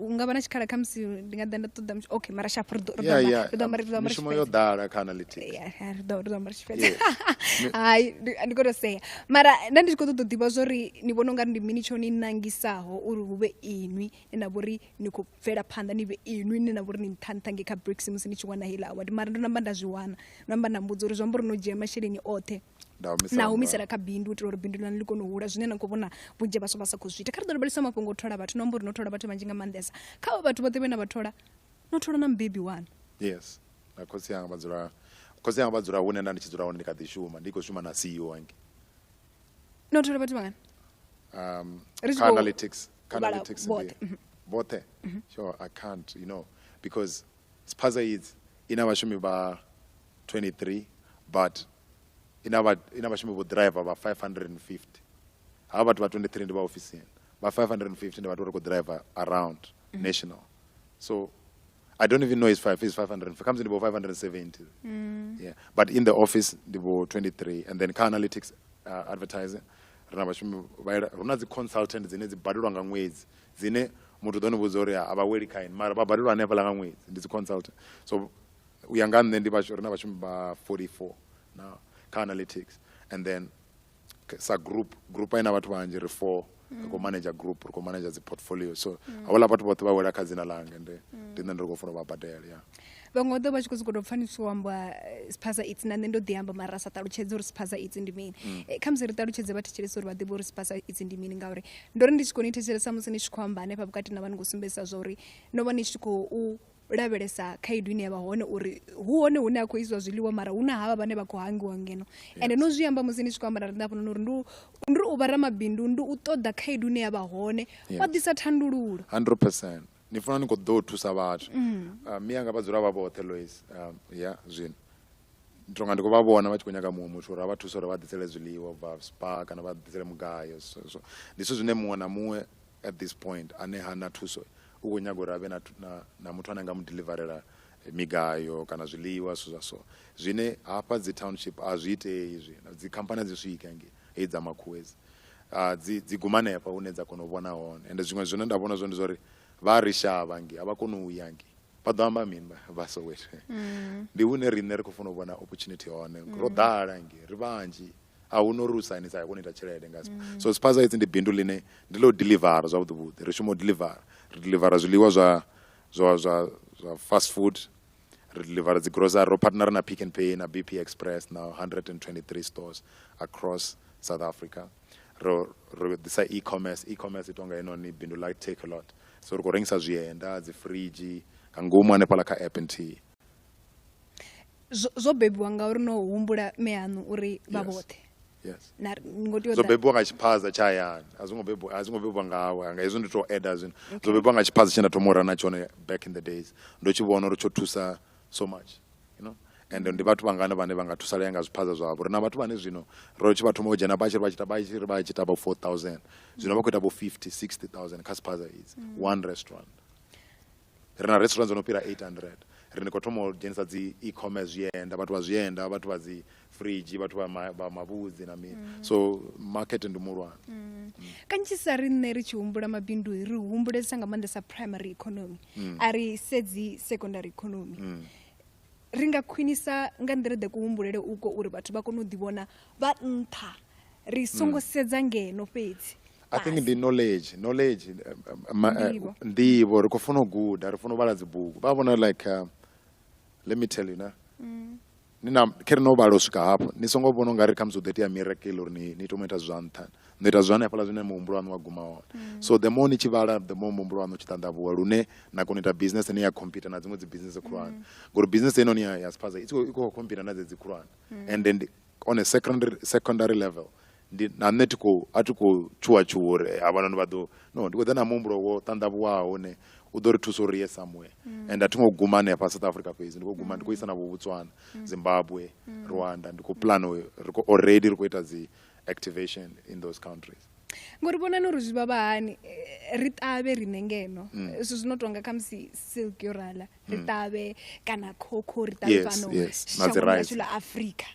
u nga vha na tshikhala kha musi ndi nga ḓa nda ṱoḓa okay mara sharp ri ḓo ambara ri ḓo ambara mishumo yo ḓala kha analytics ri ḓo ri ḓo ambara tshifhedza hai ndi khou tou sea mara nda ndi tshi khou ṱoḓa u ḓivha zwori ni vhona ungari ndi mini tsho ni nangisaho uri hu vhe inwi ni na vhori ni khou bvela phanḓa ni vhe inwi ni na vhori ni nṱha nṱha nge kha bricks musi ni tshi wana heiḽa award mara ndo namba nda zwi wana ndo namba nda mbudza uri zwi amba uri no dzhia masheleni oṱhe na humisela kha bindu u itela uri bindu lani ḽi kone u hula zwine na khou vhona vhunzhi vhaswa vha sa khou zwi ita kha ri ḓo lavhelesa mafhungo o thola vhathu no amba uri no thola vhathu vhanzhi nga maanḓesa kha vha vhathu vhoṱhe vhe na vha thola no thola na mubebi wanu yes na khotsi anga vha dzula khotsi anga vha dzula hune nda ndi tshi dzula hone ndi kha ḓi shuma ndi khou shuma na ceo ange no thola vhathu vhangana um kha analytics kha analytics vhoṱhe mhm. vhoṱhe mhm. sure i can't you know because Spaza Yids i na vhashumi vha 23 but i na vha i na vhashumi vho ḓiraiva vha 550 havha vhathu vha 23 ndi vha ofisini vha 550 ndi vhathu vha ri khou ḓiraiva around national so i don't even know is five is 550 khamusi ndi vho 570 yeah but in the office ndi vho 23 and then kha analytics uh, advertising ri na vhashumi vha ila- hu na dzi consultant dzine dzi badelwa nga ṅwedzi dzine muthu ḓo ni vhudza uri a vha weli kha ini mara vha badelwa hanefhaḽa nga ṅwedzi ndi dzi consultant so u ya nga nṋe ndi vhashu ri na vhashumi vha 44 na kha analytics and then sa group group ina vhathu vhanzhi ri four ri khou manager group ri khou manager dzi portfolio so havhaḽa vhathu vhoṱhe vha wela kha dzina langa ende ndi nṋe ndi ri khou funa u vha badela ya vhaṅwe vha ḓo vha tshi khou sokou tou pfanisiwa u amba eh, siphaza itsi na nṋe ndo ḓi amba mara sa ṱalutshedze uri siphaza itsi ndi mini mm. eh, khamusi ri ṱalutshedze vha thetshelesa uri vha ḓivhe uri siphaza itsi ndi mini ngauri ndo ri ndi tshi khou ni thetshelesa musi ni tshi khou amba hanefha vhukati na vha ni khou sumbedzisa zwa uri no vha ni tshi khou lavhelesa khaedu ine ya vha hone uri hu hone hune a khou isiwa zwiḽiwa mara hu na havha vhane vha khou hangiwa ngeno ende no zwi amba musi ni tshi khou amba na riṋe hafhanoni uri ndi u vha ramabindu ndi u ṱoḓa khaedu ine ya vha hone wa ḓisa thandululo 100 ni funa ni kho ḓo thusa vhathu mm. uh, mi anga vha dzula vha vhoṱhe lois um, ya zwino ndi tonga ndi khou vha vhona vha tshi khou nyaga muṅwe muthu uri a vha thusa uri vha ḓisele zwiḽiwa bva spa kana vha ḓisele mugayo so ndi zwithu zwine muṅwe na muṅwe at this point ane ha na thuso u khou nyaga uri a vhe na, na, na muthu ane a nga mu deliverela eh, migayo kana zwiḽiwa zwithu zwa so zwine hafha dzi township a zwi itei izwi dzikhamphani a dzi swike ngei hei dza makhuwezi dzi dzi guma hanefha hune dza kona u vhona hone ende zwiṅwe zwine nda vhona zwone ndi zwa uri vha a ri shavha ngi a vha koni u ya ngi vha ḓo amba mini vha soweto mm. ndi hune riṋe ri khou funa u vhona opportunity hone ro mm. ḓala ngi ri vhanzhi a hu no ri u sainisa ya kona u ita tshelede nga mm. so spaza hedzi ndi bindu ḽine ndi ḽo delivera zwavhuḓi vhuḓi ri shuma u delivera ri delivera zwiḽiwa zwa zwa zwa zwa fast food Ri deliver dzi grocery, ro partner na Pick n Pay na BP Express na 123 stores across South Africa. Ro ro ḓisa e-commerce, e-commerce i tonga heinoni bindu ḽa Takealot. So ri khou rengisa zwienda, dzi fridge nga ngomu hanefhaḽa kha app nthihi. Zwo zwo bebiwa ngauri no humbula mme aṋu uri vha vhoṱhe. yes na ngo tea zwo bebiwa nga tshiphaza tsha hayani a zwo ngo bebiwa a zwo ngo bebiwa nga hawe nga hezwi ndi to add zwino zwo bebiwa nga tshiphaza tshe nda thoma u rana tshone back in the days ndo tshi vhona uri tsho thusa so much you know and ndi vhathu vhangana vhane vha nga thusalea nga zwiphaza zwavho ri na vhathu vhane zwino ro tshi vha thoma u dzhena vha tshi ri vha tshi ta vha tshi ri vha tshi ta vho 4000 zwino vha khou ita vho 50 60000 kha siphaza idzi one restaurant Ri na restaurant dzo no fhira 800. Ri ndi khou thoma u dzhenisa dzi e-commerce, zwienda, vhathu vha zwienda, vhathu vha dzi fridge, vhathu vha ma, vha mavhudzi na mini. So market ndi muhulwane. Kanzhisa riṋe ri tshi humbula mabindu ri humbulesa nga maanḓesa primary economy, a ri sedzi secondary economy. Ri nga khwinisa nga nḓila ḓe kuhumbulele uko uri vhathu vha kone u ḓivhona vha nṱha, ri songo sedza ngeno fhedzi. i think ndi knowledge knowledge eh, eh, ma- eh, Nḓivho. nḓivho ri khou funa u guda ri funa u vhala dzibugu vha vhona like uh, let me tell you na Mm. ni na khe ri no vhala u swika hafho ni songo vhona ungari khamusi hu ḓo itea miracle uri ni ni tomo ita zwa nṱha no ita zwa hanefhaḽa zwine muhumbulo waṋu wa guma hone Mm. so the more ni tshi vhala the more muhumbulo waṋu u tshi ṱanḓavhuwa lune na kona u ita business ine ya computer na dziṅwe dzi business khulwane Mm. ngori business ino ni ya ya spaza i tshi khou- i khou computer na dzedzi khulwane Mm. and then on a secondary, secondary level ndi na nṋe thi khou a thi khou tshuwa tshuwa uri eh, havhanoni vha ḓo no ndi khou ḓa na muhumbulo wo ṱanḓavhuwaho une u ḓo ri thusa uri ye somewhere mm. and a thi ngo guma hanefha south africa fhedzi ndi khou guma ndi khou isa na vhuvhutswana mm. zimbabwe mm. rwanda ndi khou plan ri khou already ri khou ita dzi activation in those countries ngori vhonani uri zwi vha vha hani eh, ri ṱavhe riṋe ngeno mm. zwithu zwino tonga khamusi silk yo rala ri mm. ṱavhe kana khokho ri ṱavhe fhano shangoni ḽa afrika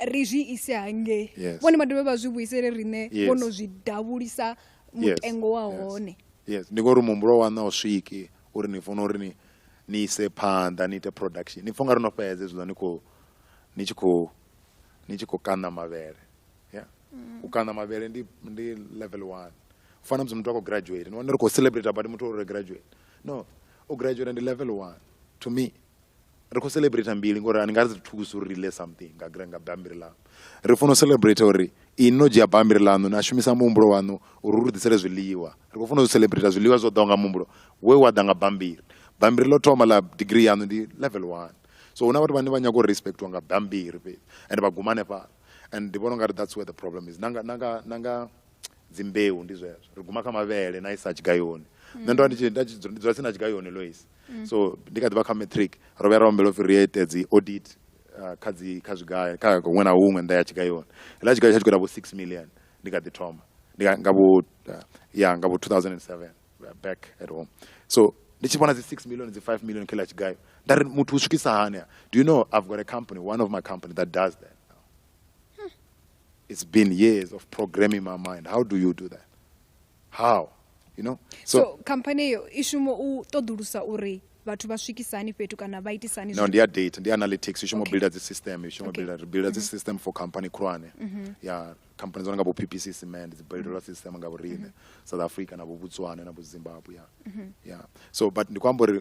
ri zwi ise hangei vhone vha dovhe vha zwi vhuisele riṋe vho no zwi davhulisa mutengo wa hone yes ndi ngori muhumbulo wa na u swiki uri ni funa uri ni ni ise phanḓa ni ite production ni pfha nga ri no fhedze zwiḽa ni khou ni tshi khou ni tshi khou kaṋa mavhele ya mm. u kaṋa mavhele ndi ndi level one u fana musi muthu a khou graduate ni wana ri khou celebrate but muthu uri graduate no u graduate ndi level one to me ri khou celebrate mbili ngori ani nga ri thukusa uri ri ḽe something nga gra nga bambiri ḽaṋu ri funa u celebrate uri ini no dzhia bambiri ḽaṋu na shumisa muhumbulo waṋu uri ri ḓisele zwiḽiwa ri khou funa u celebrate zwiḽiwa zwo ḓaho nga muhumbulo we wa ḓa nga bambiri bambiri ḽo thoma ḽa degree yaṋu ndi level one so huna vhathu vhane vha nyaga u respectiwa nga bambiri fhedzi and vha guma hanefhala and ndi vhona ungari that's where the problem is nanga nanga nanga dzimbeu ndi zwezwo ri guma kha mavhele na isa tshigayoni nṋe ndo ndi nda tshi dzula tsini na tshigayoni lois mm. so ndi kha ḓivha kha matric ro vhuya ra ombela upfi ri ite dzi audit uh, kha dzi kha zwigaya kha huṅwe na huṅwe nḓa ya tshigayoni hela tshigayo tsha tshigwera vho six million ndi kha ḓi thoma ndi nga vho uh, ya nga vho 2007 back at home so ndi tshi vhona dzi six million dzi five million kha ḽa tshigayo nda ri muthu u swikisa hani do you know i've got a company one of my company that does that It's been years of programming my mind. How do you do that? How? You know? So, so company eyo i shuma u ṱoḓulusa uri vhathu vha swikisa hani fhethu kana vha itisa hani no ndi ya data ndi analytics i shuma okay. builda dzi system i shuma okay. builda builda mm -hmm. dzi mm-hmm. system for company khulwane mm -hmm. ya company dzo nga bo PPC cement dzi builda mm -hmm. system nga vhorine mm -hmm. South Africa na bo Botswana na bo Zimbabwe ya mm -hmm. ya so but ndi kwamba uri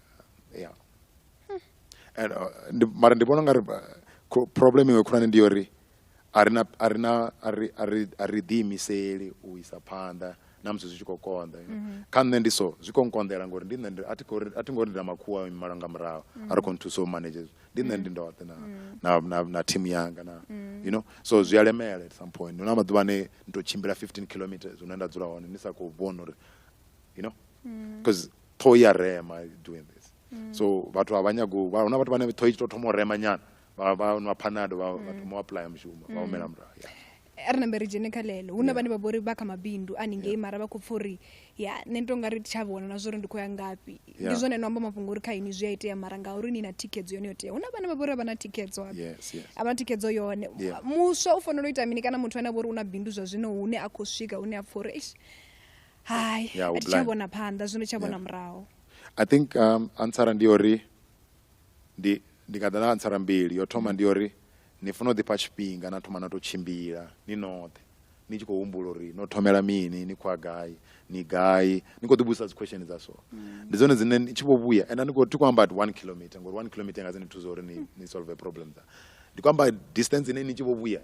ya and uh, ndi, mara ndi vhona ngari uh, problem iwe khulwane ndi yori arina arina ari ari ari ḓi imiseli u isa phanḓa na musi zwi tshi khou konḓa you know? mm -hmm. kha nṋe ndi so zwi khou nkonḓela ngori ndi nṋe ndi a thi khou a thi ngo ri nda makhuwa malo nga murahu mm -hmm. a ri khou nthusa u manage ndi nṋe ndi mm. ndoṱhe na, mm. na, na, na team yanga na mm. you know so zwi a lemela at some point huna maḓuvha ane ndi to tshimbila 15 kilometers hune nda dzula hone ni sa khou vhona uri you know because mm. ṱhoho i a rema doing this mm. so vhathu a vha nyago hu na vhathu vhane ṱhoho i tshi tou thoma u rema nyana vha nwa phanado vha mm. thoma u aplya mushumo vha mm. humela murahu a ri nambe ri dzhene kha ḽeḽo hu na vhane vha vhori vha kha mabindu a ningei mara vha khou pfa uri ya nṋe ndi to nga ri tsha vhona na zwori ndi khou ya ngafhi ndi zwone no amba mafhungo uri kha ini zwi a itea mara nga uri ni na thikhedzo yone yo tea hu na vhane vha vhori a vha na thikhedzo a vha thikhedzo yone muswa u fanela u ita mini kana muthu ane a vhori u na bindu zwa zwino hune a khou swika hune a pfa uri hai yeah, a thi tsha vhona phanḓa zwino tsha vhona muraho i think um, ansara ndi uri ndi ndi nga ḓa na ansara mbili yo thoma ndi uri ni funa u ḓifha tshifhinga na thoma na tou tshimbila ni noṱhe ni tshi khou humbula uri no thomela mini ni khoya gai ni gai ni khou ḓivhudzisa dzi question dza so mm. ndi dzone dzine ni tshi vho vhuya and ni khou ti khou amba at one kilometer ngori one kilometer nga dzi ni thusa uri ni, ni solve problem dza ndi khou amba distance ine ni tshi vho vhuya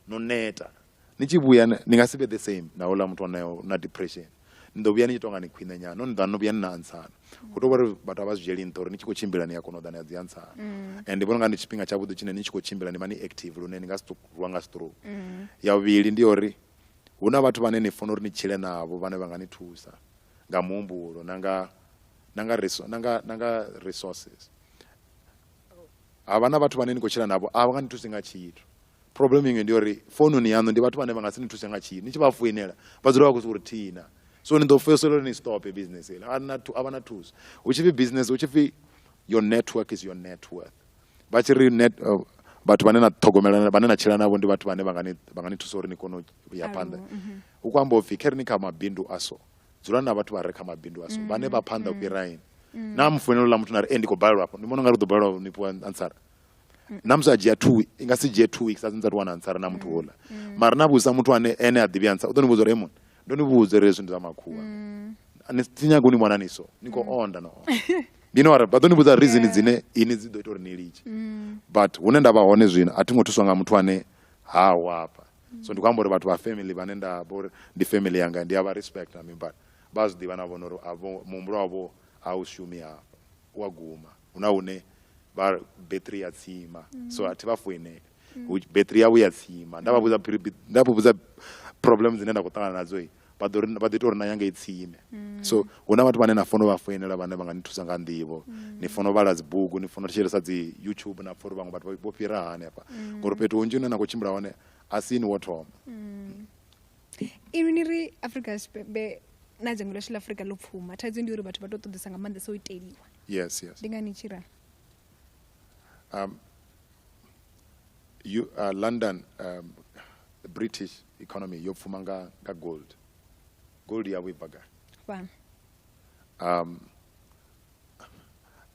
no neta ni tshi vhuya ni nga si vhe the same na houḽa muthu onayo na depression ni ḓo vhuya ni tshi tonga ni khwine nyana no ni ḓa no vhuya ni na antsana hu tou vha uri vhathu a vha zwi dzhieli nṱha uri ni tshi khou tshimbila ni a kona u ḓa ni a dzi antsana mm. and ndi vhona nga ndi tshifhinga tshavhuḓi tshine ni tshi khou tshimbila ni vha ni active lune ni nga si rwa nga stroke mm. ya vhuvhili ndi uri hu na vhathu vhane ni funa uri ni tshile navho vhane vha nga ni thusa nga muhumbulo na nga na nga resources havha na vhathu vhane ni khou tshila navho a vha nga ni thusi nga tshithu problem iṅwe ndi uri foununi yaṋu ndi vhathu vhane vha nga si ni thuse nga tshithu ni tshi vha foinela vha dzula vha khou si uri thina so ni ḓo fhedzisela uri ni stope business ile a vha na thuso hu tshi pfi business hu tshi pfi your network is your net worth vha tshi ri net uh, vhathu vhane na ṱhogomela vhane na tshila navho ndi vhathu vhane vha nga ni thusa uri ni kone u ya phanḓa mhm. hu khou amba upfhi khe ri ni kha mabindu a so dzulani na vhathu vha re kha mabindu aso mm, vhane vha phanḓa u mm, fhira ini mm. na mufoinelo ḽa muthu na ri e ndi khou balelwa afho ndi vhona unga ri ḓo balelwa ni fhiwa ansara na musi a dzhia two i nga si dzhie two weeks a dzinza ri wana ansara na muthu houḽa mara na vhudzisa muthu ane ene a ḓivhi ansara u ḓo ni vhudza uri emon ndo ni vhudza uri hezwi ndi zwa makhuwa ni si nyaga u ni vhona ni so ni khou onda no onda you know vha ḓo ni vhudza reason dzine ini dzi ḓo ita uri ni litshe but hune nda vha hone zwino a thi ngo thuswa nga muthu ane ha wafha mm. so ndi khou amba uri vhathu vha family vhane nda vha uri ndi family yanga ndi a vha respect na mini but vha a zwi ḓivha na vhona uri muhumbulo wavho a u shumi hafha u a guma hu na hune vha battery ya tsima mm. so a thi vha foinele mm. battery yavho ya tsima nda vha vhudza problem dzine nda khou ṱangana nadzo vha ḓo vha ḓi tou ri na ya ngei tsini mm. so hu na vhathu vhane na fono vha foinela vhane vha nga ni thusa nga nḓivho mm. ni fono vhala dzibugu ni fono thetshelesa dzi youtube na pfa uri vhaṅwe vhathu vho fhira hani hafha mm. ngori fhethu hunzhi hune na khou tshimbila hone a si ni wo thoma inwi ni ri afrika tshipembe na dzhango ḽashu ḽa afrika ḽo pfuma thaidzo ndi uri vhathu vha tou ṱoḓesa nga maanḓesa o iteliwa yes yes ndi ngani tshi ralo Um, you, uh, london um, british economy yo pfuma nga, nga gold gold yavho i bva gai fhano um,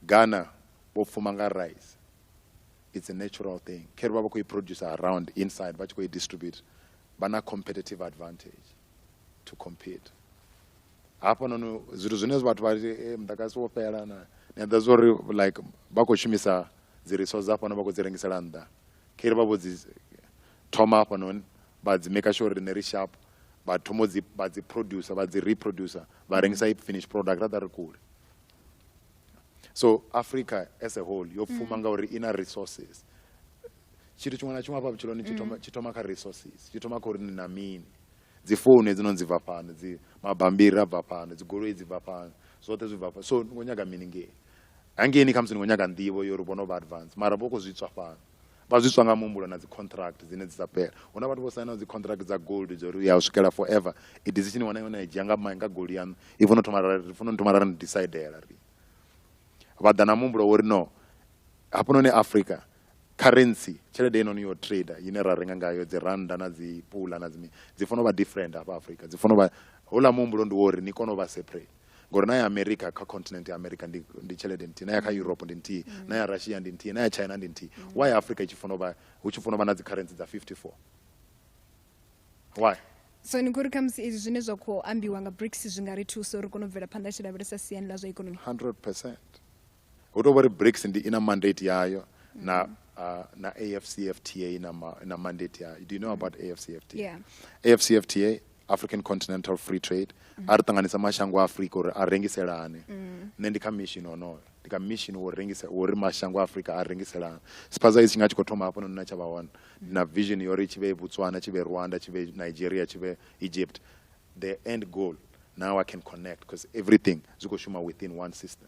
ghana vho pfuma nga rice it's a natural thing khere vha vha khou i produce around inside vha tshi khou i distribute vha na competitive advantage to compete hafhanoni zwithu zwine vhathu vha ri eh, muḓagasi wo fhela na ni a ḓa zwa uri like vha khou shumisa dzi resource hafhano vha khou dzi rengisela nnḓa khe ri vha vho dzi thoma hafhanoni vha dzi maker sure uri ne ri sharp vha thoma dzi vha dzi producer vha dzi reproducer vha rengisa i finish product ra ḓa ri kule so africa as a whole yo pfuma mm. ngauri i na resources tshithu tshiṅwe na tshiṅwe hafha vhutshiloni tshi mm. thoma kha resources tshi thoma kha uri ni na mini Dzi founu hedzinoni dzi bva fhano, dzi mabambiri a bva fhano, dzi goloi dzi bva fhano, zwoṱhe zwi bva fhano. So ni khou nyaga mini ngei? Hangeini khamusi ni khou nyaga nḓivho ya uri vho no vha advance mara vho khou zwi tswa fhano. Vha zwi tswa nga muhumbulo na dzi contract dzine dzi sa fhela. Hu na vhathu vho sainaho dzi contract dza gold dza uri u ya u swikela forever. I decision iṅwe na iṅwe na i dzhia nga mai nga goloi yaṋu i funa u thoma ra ri funa u thoma ra ni disaidela riṋe. Vha ḓa na muhumbulo wa uri no hafhanoni Afrika currency tshelede heinoni yo trader ine ra renga ngayo dzi rannda na dzi pula na dzi mini dzi fanela u vha different hafha Afrika dzi fanela u vha houḽa muhumbulo ndi wa uri ni kone u vha separate ngori na ya America kha continent ya America ndi, ndi tshelede nthihi na ya kha Europe ndi nthihi mm. na ya Russia ndi nthihi na ya China ndi nthihi mm. why Africa i tshi fanela u vha hu tshi fanela u vha na dzi currency dza 54 why so ni khou ri khamusi izwi zwine zwa khou ambiwa nga brics zwi nga ri thusa uri kone u bvela phanḓa tshi lavhelesa siani ḽa zwa ikonomi 100 percent hu tou vha uri BRICS ndi i na mandate yayo na uh, na AFCFTA na, ma, na mandate yayo do you know about AFCFTA yeah. AFCFTA African Continental Free Trade mm. a ri ṱanganisa mashango a Afrika uri a rengiselane mm. nṋe ndi kha mission honoyo ndi kha mission wo rengisa wo ri mashango a Afrika a rengiselane spaza itshi nga tshi khou thoma hafho nona tsha vha hone mm. na vision yori tshi vhe Botswana tshi vhe Rwanda tshi vhe Nigeria tshi vhe Egypt the end goal now I can connect because everything zwi khou shuma within one system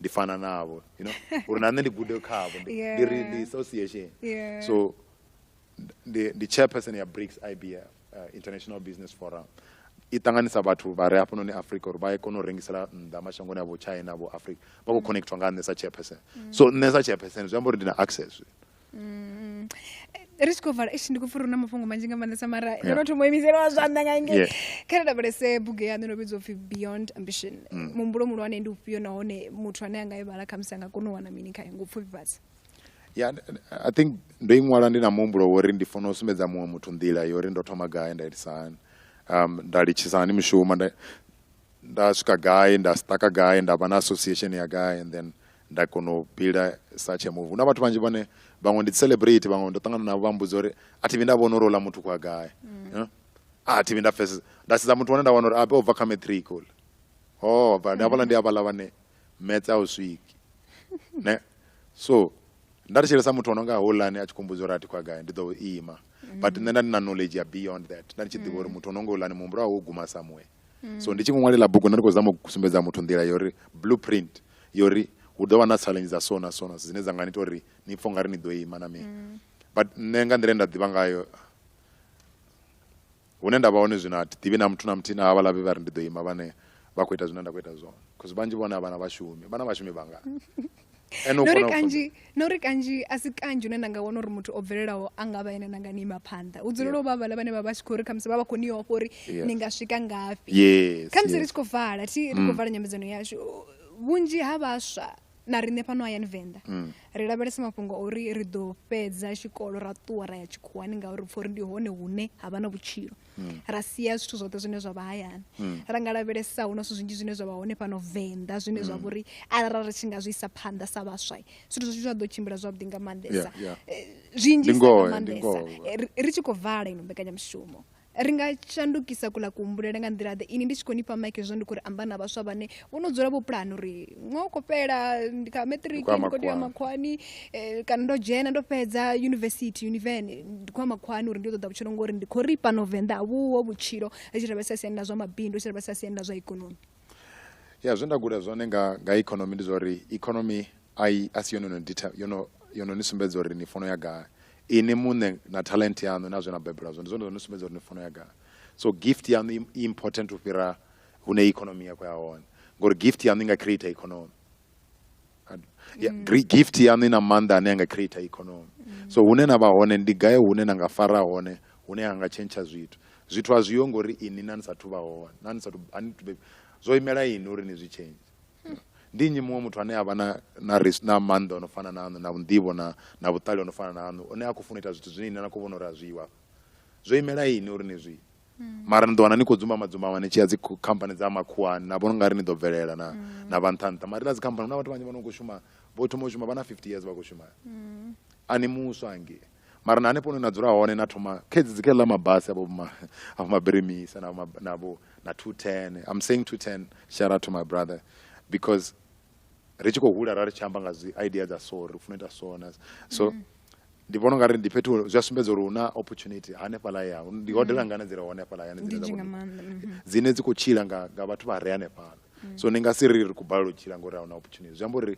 ndi fana navho you know uri na nṋe ndi gude khavho ndi yeah. ndi ri ndi association yeah. so ndi ndi chairperson ya BRICS IBF uh, International Business Forum i ṱanganisa vhathu vha re hafhanoni africa uri vha ye kona u rengisela nnḓa mashangoni a vho china vho africa vha khou mm. connectwa nga nṋe sa chairperson mm. so nṋe sa chairperson zwi amba uri ndi na access Mm. ri tshi khou vala ishi ndi khou pfura na mafhungo manzhi nga maanḓesa mara ndo Yeah. no thoma u imisela wa zwanḓa nga ngei Yeah. kha ri lavhelese bugu yaṋu no vhidzwa upfhi beyond ambition Mm. muhumbulo muhulwane ndi ufhio nahone muthu ane a nga i vhala khamusi a nga kona u wana mini khayo ngo pfufhifhadza ya i think ndo i ṅwala ndi na muhumbulo wo uri ndi funa u sumbedza muṅwe muthu nḓila yo uri ndo thoma gai nda itisa hani um, nda litshisa hani mushumo nda, nda swika gai nda staka gai nda vha na association ya gai and then nda kona u builder such a move hu na vhathu vhanzhi vhane vhaṅwe ndi celebrate vhaṅwe ndo ṱangana navho vha mbudza uri a thi vhi nda vhona uri ola muthu kwa gai mm. a thi vhi nda pfesesa nda sedza muthu wane nda wana uri abe u bva kha matric ola o oh, bva ndi havhala ndi havhala vhane metse a u swiki ne so nda ri tshelesa muthu ono nga holani a tshi kho mbudza uri a thi kwa gai ndi ḓo ima mm. but nṋe nda ndi na knowledge ya beyond that nda ndi tshi ḓivha uri mm. muthu ono nga holani muhumbulo wawe wo guma somewhere mm. so ndi tshi ṅwalela bugu nda ndi khou zama u sumbedza muthu nḓila yori blueprint yori hu ḓo vha na challenge dza sona sona dzine dza nga ni ita uri ni pfo nga ri ni ḓo ima na mini mm. but nṋe nga nḓila nda ḓivha ngayo hune nda vha hone zwino athi ḓivhi na muthu na muthihi na havha lavhi vha ri ndi ḓo ima vhane vha khou ita zwine nda khou ita zwone bcause vhanzhi vhone a vhana vhashumi vhana vhashumi vhangani nori kanzhi nori kanzhi a si kanzhi une na nga wana uri muthu o bvelelaho a nga vha ene na nga ni ima phanḓa hu dzulela u vha vhala vhane vha vha tshi khou ri khamusi vha vha khou ni ofha uri ni nga swika ngafhi khamusi ri tshi khou vala thi ri khou mm. vala nyambedzano yashu vhunzhi ha vhaswa na riṋe fhano hayani venḓa mm. ri lavhelesa mafhungo uri ri ḓo fhedza tshikolo ra ṱuwa ra ya tshikhuwani ngauri pfha uri ndi hone hune ha vha na vhutshilo mm. ra sia zwithu zwoṱhe zwine zwa vha hayani mm. ra nga lavhelesa hu na zwithu zwinzhi zwine zwa vha hone fhano venḓa zwine zwa mm. vhori arali ri tshi nga zwi isa phanḓa sa vhaswa zwithu zwithu zwa ḓo tshimbila zwavhuḓi nga maanḓesa eh, zwinzhi nga maanḓesa eh, ri tshi khou vala ino mbekanyamushumo ri nga shandukisa kula kuhumbulele nga nḓila ḓe ini ndi tshi khou ni fha maike zwo ndi khou ri amba na vhaswa vhane vho no dzula vho pulana uri ṅwa u khou fhela ndi kha matric ndi khou tea makhwani eh, kana ndo dzhena ndo fhedza university univen ndi khou ya makhwani uri ndi ṱoḓa vhutshilo ngori ndi khou ri fhano venḓa vhuho vhutshilo ri tshi lavhelesa siani ḽa zwa mabindu ri tshi lavhelesa siani ḽa zwa ikonomi ya zwe nda guda zwone nga nga ikonomi ndi zwa uri ikonomi ai a si yone no dita yono yono ni sumbedza uri ni fono ya gai ini muṋe na talent yaṋu na zwe na bebelwa zwone zwone zwo ni sumbedza uri ni fono ya gai so gift yaṋu i important u fhira hune economy ya khou ya hone ngori gift yaṋu i nga creator economy ya, mm. gift yaṋu i na maanḓa ane a nga creator economy mm. so hune na vha hone ndi gaye hune na nga fara hone hune ha nga tshentsha zwithu zwithu a zwiyo ngori ini na ni sathu vha hone na ni sathu ani tube zwo imela ini uri ni zwi change hmm. ndi nnyi muṅwe muthu ane a vha na na ris na maanḓa ono fana na aṋu na vhunḓivho na na vhuṱali ono fana na aṋu one a khou funa ita zwithu zwine ine na khou vhona uri a zwiwa zwo imela ini uri ni zwi Mm. mara ni ḓo wana ni khou dzumbama dzumbama ni tshi ya dzi khu- khamphani dza makhuwani na vhona ungari ni ḓo bvelela na Mm. na vha nṱha nṱha mara ila dzi khamphani huna vhathu vhanzhi vhano khou shuma vho thoma u shuma vha na 50 years vha khou shuma Mm. a ni muswa hangei mara na hanefho hune na dzula hone na thoma khedzi dzi kheḽa mabasi avho ma- avho mabirimisa navho ma- navho na 210 i'm saying 210 shout out to my brother because ri tshi khou hula ra ri tshi amba nga dzi idea dza so ri funa ita so na so mm. ndi vhona ungari ndi fhethu zwi a sumbedza uri hu na opportunity hanefhaḽa ya ndi hodela mm. ngana dzi re hanefhaḽa yani dzine dza mm-hmm. dzine dzi khou tshila nga nga vhathu vha re hanefhaḽa mm. so ni nga si ri ri khou balelwa u tshila ngori a huna opportunity zwi amba uri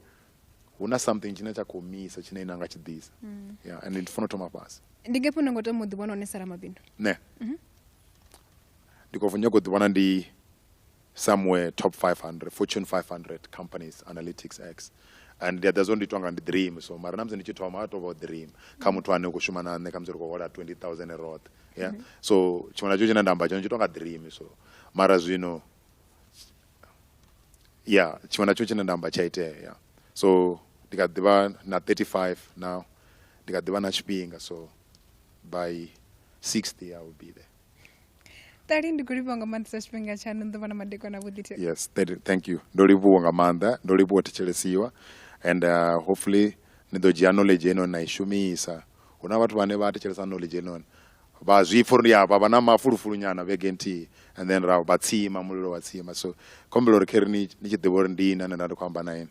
hu na something tshine tsha khou misa tshine ina nga tshi ḓisa yeah and ndi funa u thoma fhasi ndi ngefhi une ngo tama u ḓivhona hone sara mabindu ne mm-hmm. ndi khou nyako ḓivhona ndi somewhere top 500 fortune 500 companies analytics x and ndi a ḓa zwo ndi itwa nga ndi dream so mara na musi ndi tshi thoma a tovha dream kha muthu ane u khou shuma na nṋe kha musi ri khou hola 20000 roṱhe yeah mm -hmm. so tshiṅwe na tshiṅwe tshine nda amba tshone tshi tonga dream so mara zwino yeah tshiṅwe na tshiṅwe tshine nda amba tsha itea yeah so ndi kha ḓivha na 35 now ndi kha ḓivha na tshifhinga so by 60 i will be there tali ndi kulivhuwa nga maanḓa sa tshifhinga tshaṋu ni ḓo vha na madekwana vhuḓi yes thank you ndo livhuwa nga maanḓa ndo livhuwa thetshelesiwa and uh, hopefully ni ḓo dzhia knowledge eno na i shumisa hu na vhathu vhane vha thetshelesa knowledge enoni vha zwi pfha uri ya vha vha na mafulufulu nyana vhege nthihi and then ra vha tsima mulilo wa tsima so khombela uri kheri ni tshi ḓivha uri ndi ini ane nda ndi khou amba na ini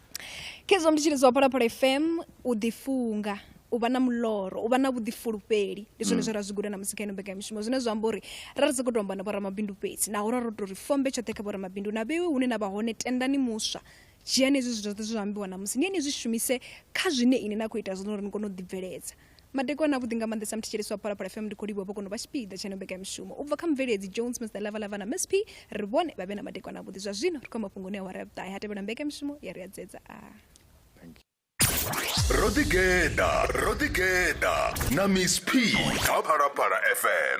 khezwo ndi tshili zwa phalaphala fm u ḓifunga u vha na muloro u vha na vhuḓifulufheli ndi zwone mm. zwe ra zwi guda na musi kha ino mbekanyamishumo zwine zwa amba uri ra ri sokou tomba na vhoramabindu fhedzi naho ra ro tou ri fombe tshoṱhe kha vhoramabindu na vhewe hune na vha hone tendani muswa dzhiani hezwi zwithu zwoṱhe zwo ambiwa na musi ni ye ni zwi shumise kha zwine ine na khou ita zwino uri ni kone u ḓibveledza Madekwana avhuḓi nga maanḓesa muthetshelesi wa Phalaphala FM ndi khou livhuwa vhokono vha tshipiḓa tsha ino mbekanyamushumo u bva kha mubveledzi Jones Mr Lava Lava na Msp ri vhone vha vhe na madekwana avhuḓi zwa zwino ri khou ya mafhungoni a awara ya vhuṱahe ha tevhela mbekanyamushumo ya ri a dzedza a Ro ḓi geḓa, ro ḓi geḓa na Miss P kha Phalaphala FM.